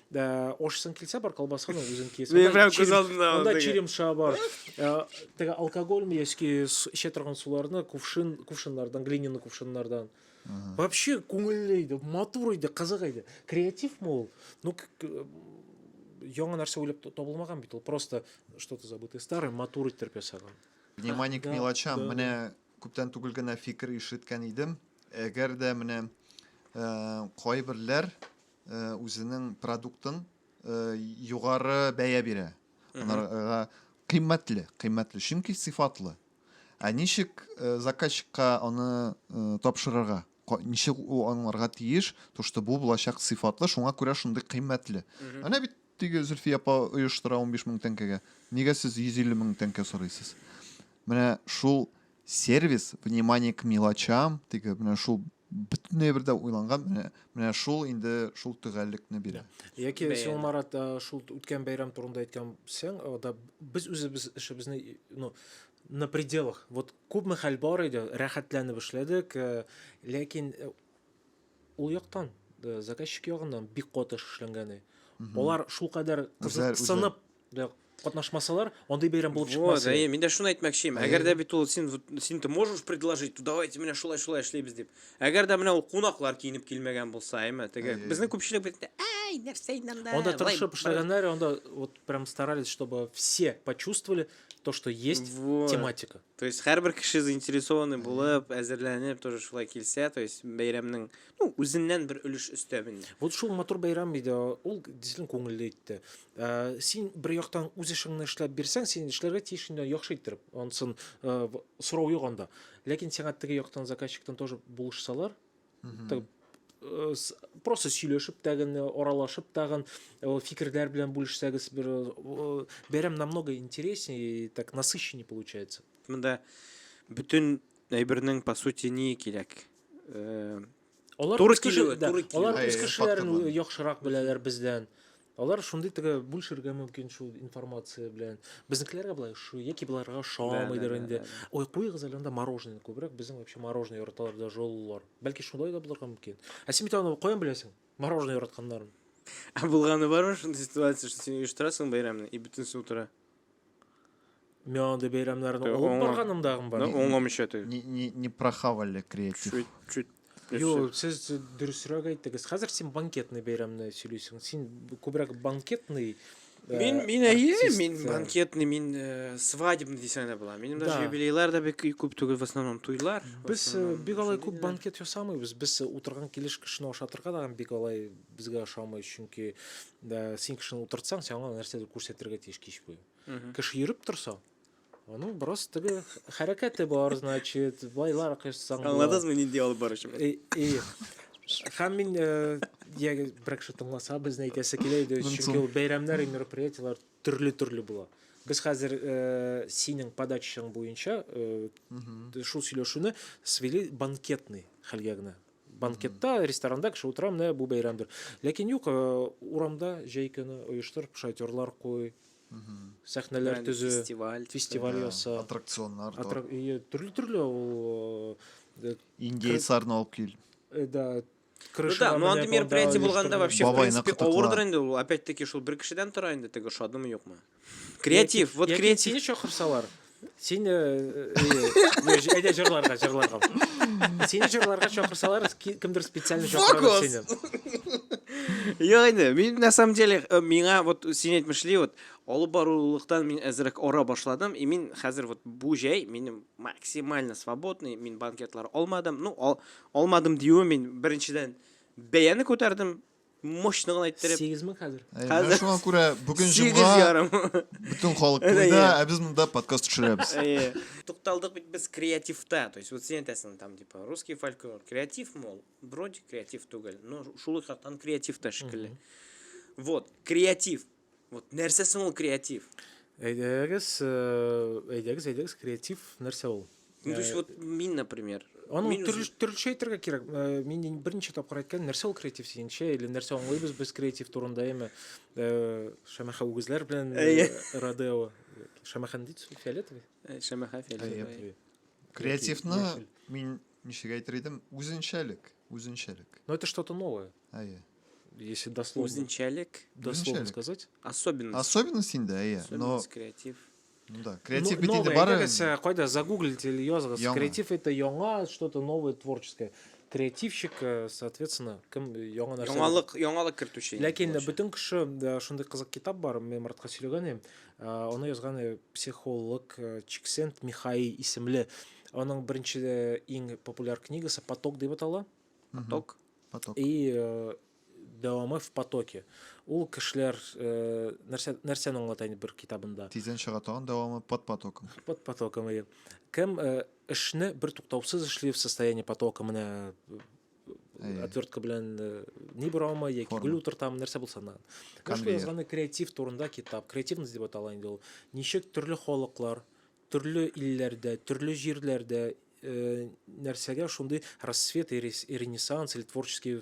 Да, ашсың килсә бар колбасаны үзең киясең. Мин прям күз алдымда Анда черемша бар. Э, теге алкогольный яки эчә торган суларны кувшин, кувшиннардан, глиняный кувшиннардан. Вообще күңелле иде, матур иде, кызык иде. Креатив мол. Ну, яңа нәрсә уйлап табылмаган бит ул. Просто что-то забытое старое матур иттереп ясаган. Внимание к мелочам. Менә күптән түгел генә фикер ишеткән идем. Әгәр дә менә э, кайберләр үзенең продуктын югары бәя бирә анарга кыйммәтле кыйммәтле чөнки сыйфатлы ә ничек заказчикка аны тапшырырга ничек ул аңларга тиеш то что бу булачак сыйфатлы шуңа күрә шундый кыйммәтле әнә бит теге зөлфия апа оештыра унбиш мең тәңкәгә нигә сез йөз илле мең тәңкә сорыйсыз менә шул сервис внимание к мелочам теге менә шул бөтенләй бер дә уйланган менә менә шул инде шул төгәллекне бирә яки син марат шул үткән бәйрәм турында әйткәнсең да без үзебез эшебезне ну на пределах вот күпме хәл бар иде рәхәтләнеп эшләдек э, ләкин э, ул яктан э, заказчик ягыннан бик каты эшләнгән алар шулкадәр кызыксынып Да катнашмасалар, андый бәйрәм булып чыкмас. Вот, мин дә шуны әйтмәкчем. Әгәр дә бит ул син син ты можешь предложить, то давайте менә шулай шулай эшләйбез дип. Әгәр дә менә ул кунаклар киенеп килмәгән булса, әйме, теге безнең күпчелек бит ай, нәрсә инде анда. Анда тырышып эшләгәннәр, анда вот прям старались, чтобы все почувствовали то, что есть вот. тематика. То есть һәрбер кеше заинтересованный булып, әзерләнеп, тоже шулай килсә, то есть бәйрәмнең, ну, үзеннән бер өлеш өстәмен. Вот шул матур бәйрәм иде, ул действительно күңелле итте. Э, син бер яктан үз эшеңне эшләп бирсәң син эшләргә тиеш инде яхшы иттереп ансын э, сорау юк анда ләкин сиңа теге яктан заказчиктан тоже булышсалар э, просто сөйләшеп тәген аралашып тагын фикерләр белән бүлешсәгез бер бәйрәм намного интереснее так насыщеннее получается мында бөтен әйбернең по сути ни кирәк Алар туры килүе, туры килүе. Алар үз кешеләрен яхшырак беләләр бездән. Алар шундый теге бүлшергә мөмкин шул информация белән. Безнекеләргә болай шу, яки боларга шамыйдыр инде. Ой, куйыгыз әле анда мороженое күбрәк, безнең вообще мороженое яраталар да жоллар. Бәлки шулай да булырга мөмкин. Ә син бит аны каян беләсең? Мороженое яратканнарын. Ә булганы бар шундый ситуация, что син оештырасың бәйрәмне и бөтенесе утыра. Мен андый бәйрәмнәрне алып оңла- барганым дагын бар. Ну, оңламыйча ты. Не, не, не прохавали креатив. Чуть, чуть. Юк, сез дөресрәк әйттегез. Хәзер син банкетный бәйрәмне сөйлисең. Син күбрәк банкетный э, Мин, мин әйе, артист, мин э, банкетный, мин э, свадебный дисәң дә була. Минем даже Да. юбилейлар да бик күп түгел, в основном туйлар. в Без э, основном бик алай күп шундыйлар. банкет ясамыйбыз. Без э, утырган килеш кешене ашатырга да бик алай Безгә ошамый, чөнки ә, син кешене утыртсаң, сиңа нәрсәдер күрсәтергә тиеш кич буе. Кеше йөреп торса, аның бераз теге хәрәкәте бар, значит, байлар кышсаң. Аңладыңызмы нинди алып баручы? И, и. Һәм мин ә, я, бер кеше тыңласа, безне әйтәсе килә иде, чөнки ул бәйрәмнәр, мероприятиеләр төрле-төрле була. Без хәзер ә, синең подачаң буенча ә, шул сөйләшүне свели банкетный хәлгә генә. банкетта ресторанда кеше утыра менә бу бәйрәмдер ләкин юк э, урамда җәй көне оештыр шатерлар куй сәхнәләр төзү фестиваль фестиваль яса аттракционнар төрле төрле ул э, индейцларны алып кил э, да Ну да, ну андый мероприятие булганда вообще, в принципе, авырдыр инде ул. Опять-таки, шул бер кешедән тора инде теге шадымы юкмы. креатив вот креатив сине чакырсалар сине әйдә жырларга жырларга сине жырларга чакырсалар кемдер специально чакыралар сине Йо, инде, мин на самом деле, э, миңа вот син әйтмешли, вот алып барулыктан мин әзрәк ора башладым, и мин хәзер вот бу җәй минем максимально свободный, мин банкетлар алмадым. Ну, ал, алмадым диюе мин беренчедән бәяне күтәрдем, мощно гына иттереп. Сигез мең хәзер. Әй, Хәзер- менә шуңа күрә бүген Сигез җомга ярым. бөтен халык Әнә, туйда, иә. ә без монда подкаст төшерәбез. Әйе. Тукталдык бит без креативта. То есть вот син әйтәсең там типа русский фольклор креатив мол, вроде креатив түгел, но шул ук яктан креатив та шикелле. Вот, креатив. Вот нәрсә соң ул креатив? Әйдәгез, э, әйдәгез, әйдәгез, креатив нәрсә ул? Ну, то есть э, вот мин, например, Аны мин төрле, үзім- төрлечә әйтергә кирәк. Э, Мин ин- берничә тапкыр әйткән, нәрсә ул креатив дигәнчә, или нәрсә аңлыйбыз без креатив турында, яме э, шәмәхә үгезләр белән Әйе. э, Родео. Шәмәхәне дейді су, фиолетовый? Э, Шәмәхә фиолетовый. Фиолетовый. Креативны Яшел. мин ничек әйтер идем? Үзенчәлек, үзенчәлек. Но это что-то новое. Әйе. Если дословно. Үзенчәлек. Дословно Үзенчәлек. сказать. Особенность. Особенность инде, әйе. Но, Особенность, креатив. ну да, креатив Ну, бит инде новое, бары... әйдәгез, ә, кайда загуглите или языгыз. Яңа. Креатив это яңа, что-то новое, творческое. Креативщик, э, соответственно, кем э, яңа нәрсә. Яңалык, яңалык кертүче. инде Ләкин булачак. бөтен кеше э, шундый кызык китап бар, мин Маратка сөйләгән идем. Э, Аны язган э, психолог э, Чиксент Михаи исемле. Аның беренче э, иң популяр книгасы Поток дип атала. поток, угу. поток. и э, дәвамы в потоке ул кешеләр э, нәрсә нәрсәне аңлата инде бер китабында тиздән чыга тагын дәвамы под потоком под потоком иә кем э, эшне бер туктаусыз эшли в состоянии потока менә э, отвертка белән э, ни бора алмы яки гүл утыртамы нәрсә булса да язганы креатив турында китап креативность дип атала инде ул ничек төрле халыклар Төрле илләрдә, төрле җирләрдә нәрсәгә шундый рассвет и ренессанс или творческие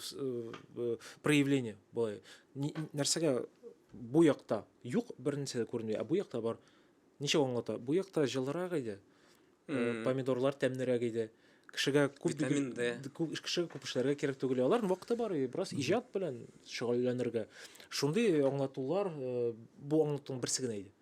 проявления былай нәрсәгә бу якта юк бернәрсә дә күренми ә бу якта бар ничек аңлата бу якта җылырак иде помидорлар тәмнерәк иде кешегә күп кешегә күп эшләргә кирәк түгел алар вакыты бар бераз иҗат белән шөгыльләнергә шундый аңлатулар бу аңлатуның берсе генә иде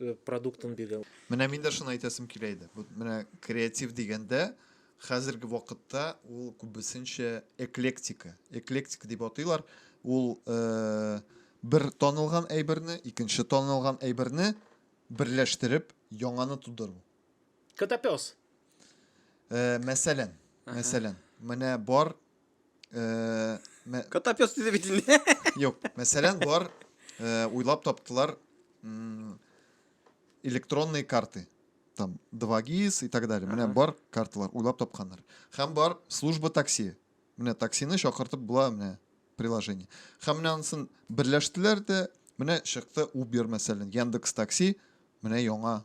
э, продуктын биргән. Менә мин дә шуны әйтәсем килә иде. Бу менә креатив дигәндә хәзерге вакытта ул күбесенчә эклектика. Эклектика дип атыйлар. Ул э, бер танылган әйберне, икенче танылган әйберне берләштереп яңаны тудыру. Котопес. Э, мәсәлән, мәсәлән, менә бар Ee, me- Котоп ёс диде бит инде. Юк, мәсәлән, болар э, уйлап таптылар м, электронные карты. Там 2GIS и так далее. Менә Ага. бар карталар уйлап тапканнар. Һәм бар служба такси. Менә таксины чакыртып була менә приложение. Һәм менә анысын берләштеләр дә, менә чыкты Uber мәсәлән, Яндекс такси, менә яңа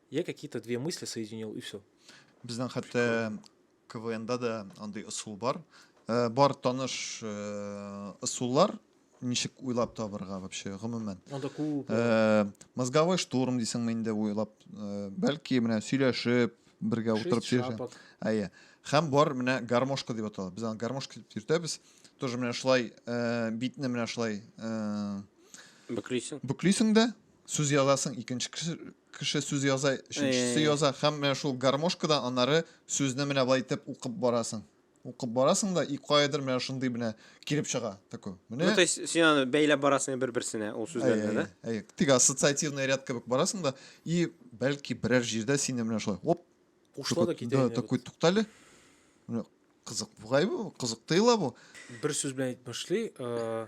Я какие-то две мысли соединил и все. Безнең хәтта КВНда да андый ысул бар. Э, бар таныш э, ысуллар, ничек уйлап табырга вообще гомумән. Анда күп. Э, мозговой штурм дисеңме инде уйлап, бәлки менә сөйләшеп, бергә утырып сөйләшеп. Әйе. Хәм бар менә гармошка дип атала. Без аны гармошка дип йөртәбез. Тоже менә шулай битне менә шулай бөклисең. Бөклисең дә, сүз язасың, икенче кеше, кеше сүз яза, өченчесе Эй. яза һәм менә шул гармошкадан аннары сүзне менә былай итеп укып барасың. Укып барасың да и каядыр менә шундый менә килеп чыга такой. Ну, Менә то есть, син аны бәйләп барасың бер-берсенә ул Әй, сүзләрне, әй, да? әй, тик ассоциативный ряд кебек барасың да, и бәлки берәр җирдә сине менә шулай оп, Кушыла да такой, китә. да, инде такой бит. туктале. Менә Кызык бугай бу, кызык тыела бу. Бер сүз белән әйтеп башлый. э,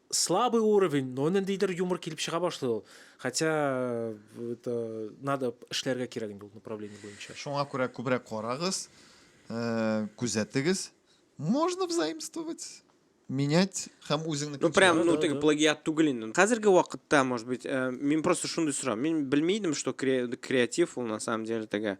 Слабый уровень, но ниндидер юмор килеп чыга башлый ул. Хотя это надо эшләргә кирәк инде ул направление буенча. Шуңа күрә күбрәк карагыз, э, күзәтегез. Можно взаимствовать, менять һәм үзеңне Ну, прям, ну, да, теге да. плагиат түгел инде. Хәзерге вакытта, может быть, э, мин просто шундый сорам. Мин белми идем, что кре- креатив ул на самом деле теге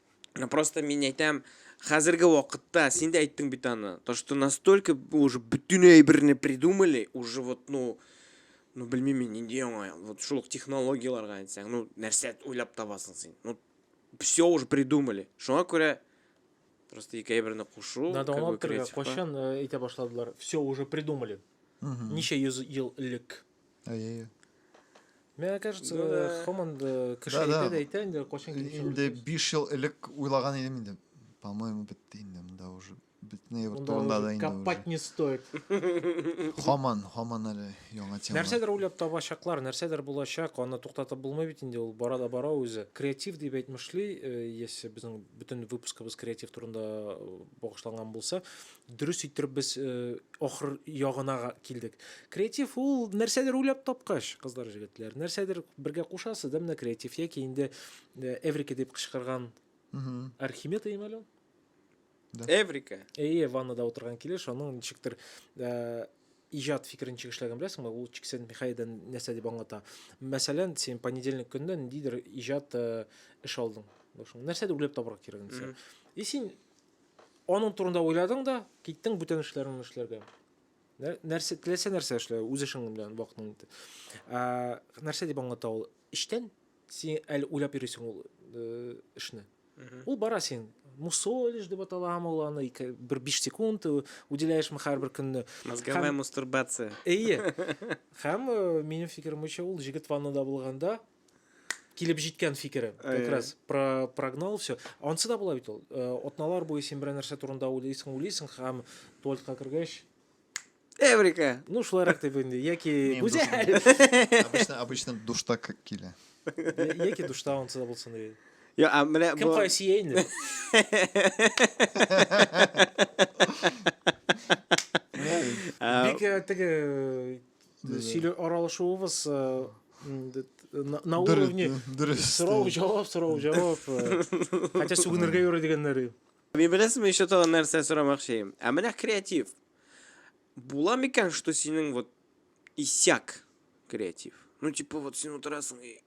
Просто мин әйтәм, хәзерге вакытта син дә әйттең бит аны, то что настолько уже бөтен әйберне придумали, уже вот ну ну белмим мин нинди яңа вот шул технологияләргә әйтсәң, ну нәрсә уйлап табасың син? Ну все уже придумали. Шуңа күрә просто ике әйберне кушу, Надо кайчан э, әйтә башладылар. Все уже придумали. Ничә йөз ел элек. әйе Миңа кажется, ну, да. Хоман да кеше да, әйтә дә әйтә инде, кайчан килеп Инде 5 ел элек уйлаган идем инде. По-моему, бетте инде монда уже. Бетне бер турында да инде. Копать не стоит. Хоман, Хоман әле яңа тема. Нәрсәдер уйлап табачаклар, нәрсәдер булачак, аны туктатып булмый бит инде, ул бара да бара үзе. Креатив дип әйтмешли, э, если безнең бөтен выпускыбыз креатив турында э, багышланган булса, Дөрес иттереп без э, ахыр ягына килдек. Креатив ул нәрсәдер уйлап тапкач, кызлар, җегетләр, нәрсәдер бергә кушасы да менә креатив яки инде э, Эврика дип кычкырган Архимед әйме әле ул? Да. Эврика. Әйе, ваннада утырган килеш, аның ничектер э, иҗат фикерен чигешләгән беләсеңме? Ул Чиксен Михаилдан нәрсә дип аңлата. Мәсәлән, син понедельник көнне ниндидер иҗат эш алдың. Нәрсәдер уйлап табарга кирәк инде. И син Аның турында уйладың да, киттең бүтән эшләрен эшләргә. Нәрсә теләсә нәрсә эшлә, үз эшең белән вакытың итте. Нәрсә дип аңлата ул? Эштән син әле уйлап йөрисең ул э, эшне. Ул бара син мусолишь деп аталамы ул аны бер биш секунд э, уделяешмы һәрбер көнне мозговая мастурбация эйе һәм э, минем фикеремчә ул жигит ваннада булганда килеп җиткән фикере как раз про прогнал все анысы да була бит ул атналар буе син берәр нәрсә турында уйлыйсың уйлыйсың һәм туалетка кергәч эврика ну шулайрак дип инде яки гүзәл обычно обычно душта килә яки душта анысы да булсын дип Йо, а менә бу... Кем кая сия инде? Бик э, теге сөйле аралашуыбыз на уровне сорау җавап сорау җавап хотя сүгенергә юрый дигәннәр мин беләсезме еще тагын нәрсә сорамакчы ә менә креатив була микән что синең вот исяк креатив ну типа вот син утырасың и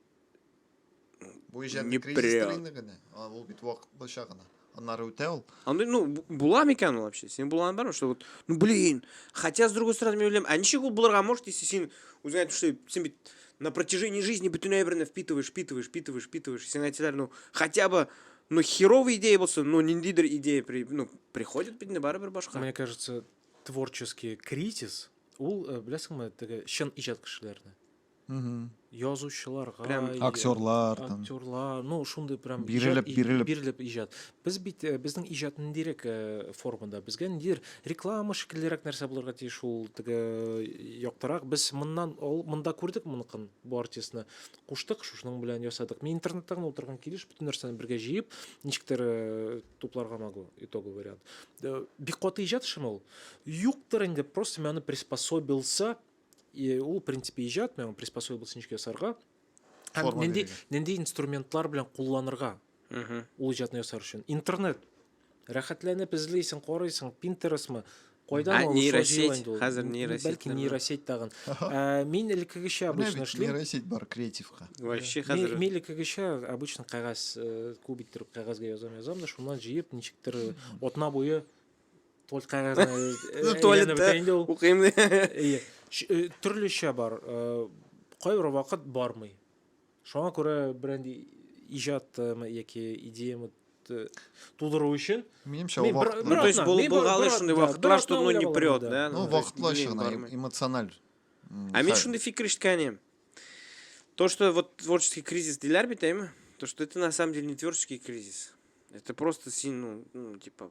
Бу иҗат Не кризис прям. инде генә. А, Ул бит вакытлыча гына. Аннары үтә ул. Андый, ну, бу- була микән ул вообще? Син булган бармы, что вот, ну, блин, хотя, с другой стороны, мин уйлыйм, а ничек ул булырга может, если син, үзең әйтеп эшләп, син бит на протяжении жизни бөтен әйберне впитываешь, впитываешь, впитываешь, впитываешь, сиңа әйтсәләр, ну, хотя бы, ну, херовый идея булсын, ну, ниндидер идея, при, ну, приходит бит инде барыбер башка. Мне кажется, творческий кризис, ул, э, беләсеңме, теге чын иҗат кешеләрне. язучыларга прям актерлар актерлар ну шундый прям бирелеп бирелеп бирелеп иҗат без бит э, безнең иҗат ниндирәк э, формада безгә ниндидер реклама шикеллерәк нәрсә булырга тиеш ул теге э, яктырак без моннан ул монда күрдек моныкын бу артистны куштык шушының белән ясадык мин интернетта гына утырган килеш бөтен нәрсәне бергә җыеп ничектер тупларга могу итоговый вариант бик каты иҗат шымы ул юктыр инде просто мен аны приспособился и ул принципе иҗат миңа приспособа булсын өчен ясарга һәм нинди нинди инструментлар белән кулланырга ул иҗатны ясар өчен интернет рәхәтләнеп эзлисең карыйсың пинтересмы Кайдан ул нейросеть инде ул? Хәзер нейросеть. Бәлки нейросеть тагын. Ә, мин элеккегечә обычно эшлим. Нейросеть бар креативка. Вообще хәзер. Мин элеккегечә обычно кәгазь э, кубик иттереп кәгазьгә язам, язам да шуннан җыеп ничектер э, атна буе Туалет кәгазьне туалетта укыйм ди. Әйе. Төрлечә бар. Кайбер вакыт бармый. Шуңа күрә бренди иҗат яки идеямы тудыру өчен минемчә ул вакытлы то есть булгалы шундый вакытлар что ну не прет да ну вакытлы чыгына эмоциональ а мен шундый фикер ишеткән идем то что вот творческий кризис диләр бит әйме то что это на самом деле не творческий кризис это просто син ну типа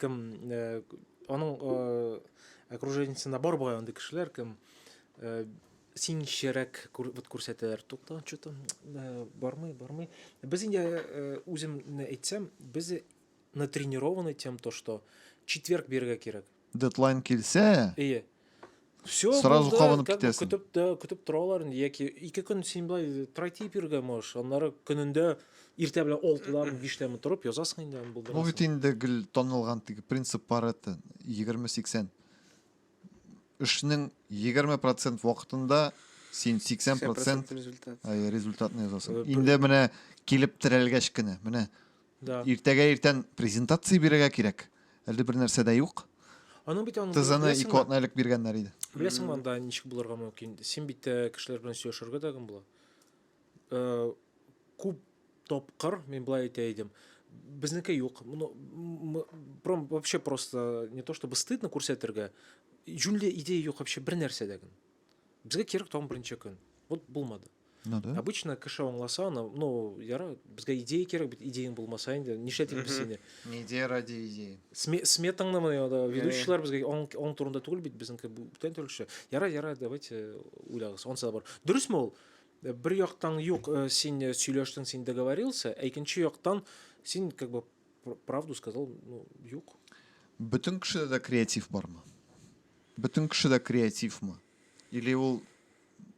Кем аның окружениесендә бар бугай андый кешеләр, кем син чирәк вот күрсәтәләр тукта что-то э, бармый бармый без инде э, үземне әйтсәм без натренированы тем то что четверг бирергә кирәк дедлайн килсә ие Все, Сразу булды, кабынып как бы китәсең. көтеп, тә- көтеп торалар инде, яки ике көн син былай трайтип йөргән можешь, аннары көнендә иртә белән алтыдамы, биштәме торып язасың инде аны Бу бит булдырасың. инде гел танылган теге принцип Паретта 20-80. Эшнең 20% вакытында син 80% 80% результат. әйе, результатны Э, язасың. бер- Инде менә килеп терәлгәч кенә, менә Да. Иртәгә иртән презентация бирергә кирәк. Әле бер нәрсә дә юк. Аның бит аны Тызыны беләсеңме? ике атна элек биргәннәр иде. Беләсеңме анда ничек булырга мөмкин? Син бит э, кешеләр белән сөйләшергә дә кем була? Э, Күп тапкыр мин былай әйтә идем. Безнеке юк. Моны м- м- пром- вообще просто не то чтобы стыдно күрсәтергә. Җүнле идея юк вообще бер нәрсәдә генә. Безгә кирәк тагын беренче көн. Вот булмады. Ну да. Обычно кеше аңласа аны, ну, яра, безгә идея кирәк бит, идеяң булмаса инде, нишләтик без сине? Не идея ради идеи. Сме, сметаңны менә да ведущийлар безгә аң, аң турында түгел бит, безнеке бүтән төрлечә. Яра, яра, давайте уйлагыз. Ансы да бар. Дөресме ул? Э, бер яктан юк, э, син э, сөйләштең, син договорился, ә икенче яктан син как бы правду сказал, ну, юк. Бөтен кешедә дә креатив бармы? Бөтен кешедә креативмы? Или ул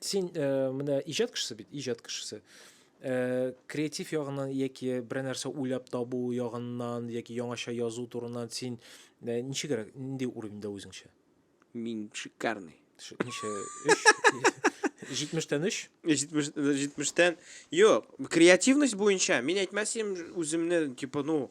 Син э, менә иҗат кешесе бит, иҗат кешесе. Э, креатив ягыннан яки берәр нәрсә уйлап табу ягыннан яки яңача язу турыннан син э, ничегрәк, нинди уровеньда үзеңчә? Мин шикарный. Ш- Ничә? Өч? Җитмештән өч? 70 70-тән. Юк, креативность буенча мин әйтмәсем үземне типа ну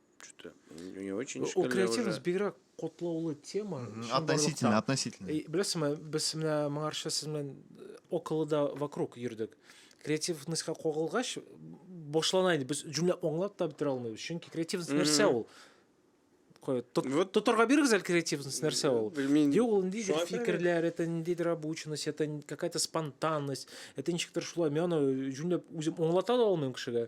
Что-то не очень Ул креативность уже... бигрәк котлаулы тема. Относительно, относительно. Э, Беләсеңме, без менә моңарча сез белән э, около да вокруг йөрдек. Креативностька кагылгач, башлана инде. Без җөмлә аңлап та бетерә алмыйбыз. Чөнки креативность нәрсә ул? Кое, тот, вот. Тоторга бирегез әле креативность нәрсә ул? Белмим. Юк, ул ниндидер фикерләр, это ниндидер обученность, это какая-то спонтанность, это ничектер шулай. Мен аны җүнләп үзем аңлата да алмыйм кешегә.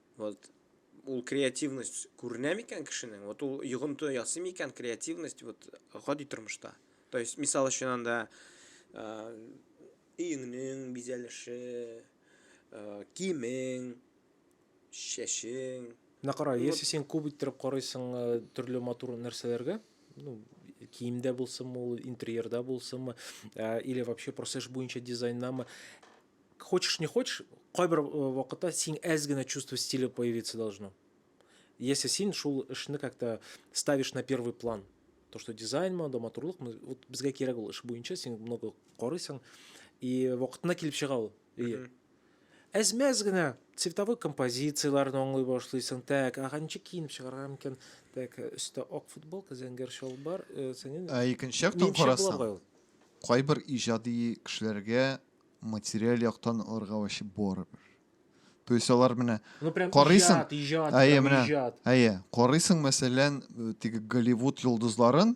Вот ул креативность күренә микән кешенең? Вот ул йогынты ясый микән креативность вот гади тормышта? То есть, мисал өчен анда өеңнең бизәлеше, киемең, чәчең. Менә кара, если син күп иттереп карыйсыңмы төрле матур нәрсәләргә, ну, киемдә булсынмы ул, интерьерда булсынмы, или вообще просто эш буенча дизайндамы, хочешь не хочешь кайбер э, вакытта син әз генә чувство стиля появиться должно если син шул эшне как то ставишь на первый план то что дизайн ма да матурлык вот безгә кирәк ул эш буенча син много карыйсың и вакытына килеп чыга ул әз мәз генә цветовой композицияләрне аңлый башлыйсың так ага ничек киенеп чыгарга мөмкин так өстә ак футболка зәңгәр чалбар э, сәнен ә икенче яктан карасаң кайбер иҗади кешеләргә материаль яктан аларга вообще барыбер. То есть алар менә ну, карыйсың, иҗат, иҗат, әйе, менә, иҗат. әйе, карыйсың, мәсәлән, э, теге Голливуд йолдызларын,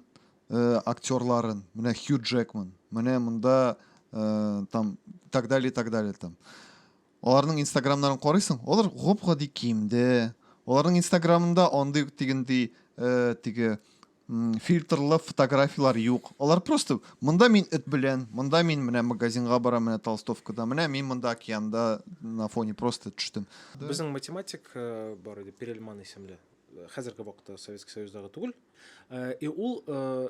э, актерларын, менә Хью Джекман, менә монда э, там так далее, так далее там. Аларның инстаграмнарын карыйсың, алар гап-гади киемдә. Аларның инстаграмында андый ук тигендей, э, теге, м, фильтрлы фотографияләр юк. Алар просто, монда мин эт белән, монда мин менә магазинга барам, менә толстовкада, менә мин монда океанда на фоне просто төштем. Безнең математик, э, бар иде, Перельман исемле. Э, Хәзерге вакытта Советский Союздагы түгел. Э, И ул, э,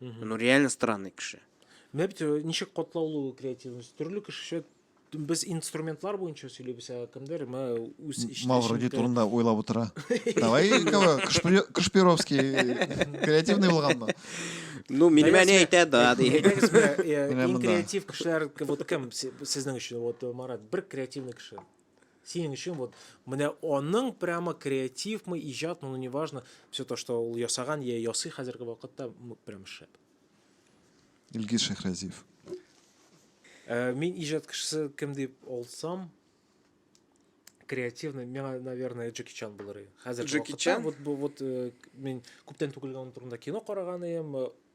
Угу. Ну, реально странный кеше. Менә бит э, ничек катлаулы ул креативность. Төрле кешечә без инструментлар буенча сөйлибез, ә кемдер мә үз эчтә. Мавроди турында уйлап утыра. Давай, Кашпировский креативный булганмы? Ну, минемә не әйтә да, ди. Иң креатив кешеләр вот кем сезнең өчен? Вот Марат, бер креативный кеше. Синең өчен вот менә аның прямо креативмы, иҗатмы, ну неважно, все то, что ул ясаган я ясый хәзерге вакытта, прям шәп. Илгиз Шәхразиев. Э, мин иҗат кешесе кем дип алсам, креативный миңа наверное джеки чан булыр иде хәзер джеки чан вот вот э, мин күптән түгел аның турында кино караган идем э,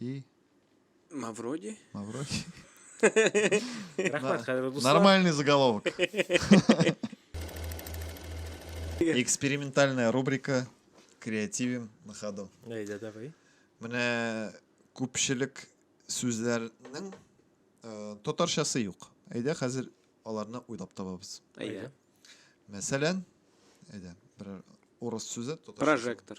и Мавроди? Мавроди. Нормальный заголовок. Экспериментальная рубрика креативим на ходу. Әйдә, давай. Менә күпчелек сүзләрнең э, татарчасы юк. Әйдә, хәзер аларны уйлап табабыз. Әйдә. Мәсәлән, әйдә, бер урыс сүзе Прожектор.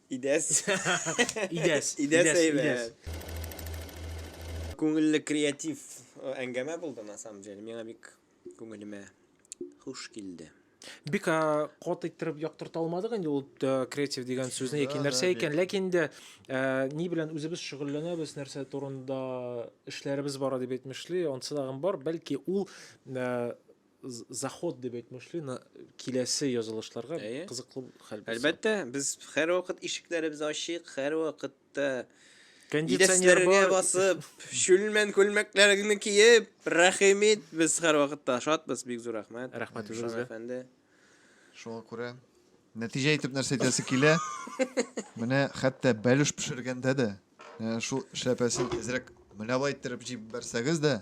Идәс. Идәс. Идәс әйбәт. Күңелле креатив э, әңгәмә булды на самом деле. Миңа бик күңелемә хуш килде. Бик э, кат иттереп яктырта алмадык инде ул э, креатив дигән сүзне яки Да, нәрсә да, икән. Ләкин инде э, ни белән үзебез шөгыльләнәбез, нәрсә турында эшләребез бара дип әйтмешли, ансы тагын бар. Бәлки ул э, Заход дип әйтмешли, на киләсе язылышларга Әйе. кызыклы хәл булса. Әлбәттә, без һәрвакыт ишекләребез ачык, һәрвакыт та Кондиционер идәнчеләргә бар. басып, чүлмән күлмәкләреңне киеп, рәхим ит, без һәрвакыт та шатбыз, бик зур рәхмәт. Рәхмәт Шам үзегезгә. әфәнде. Шуңа күрә нәтиҗә итеп нәрсә әйтәсе килә? Менә хәтта бәлеш пешергәндә дә, ә, шул эшләпәсен әзрәк мөлавай иттереп җибәрсәгез дә,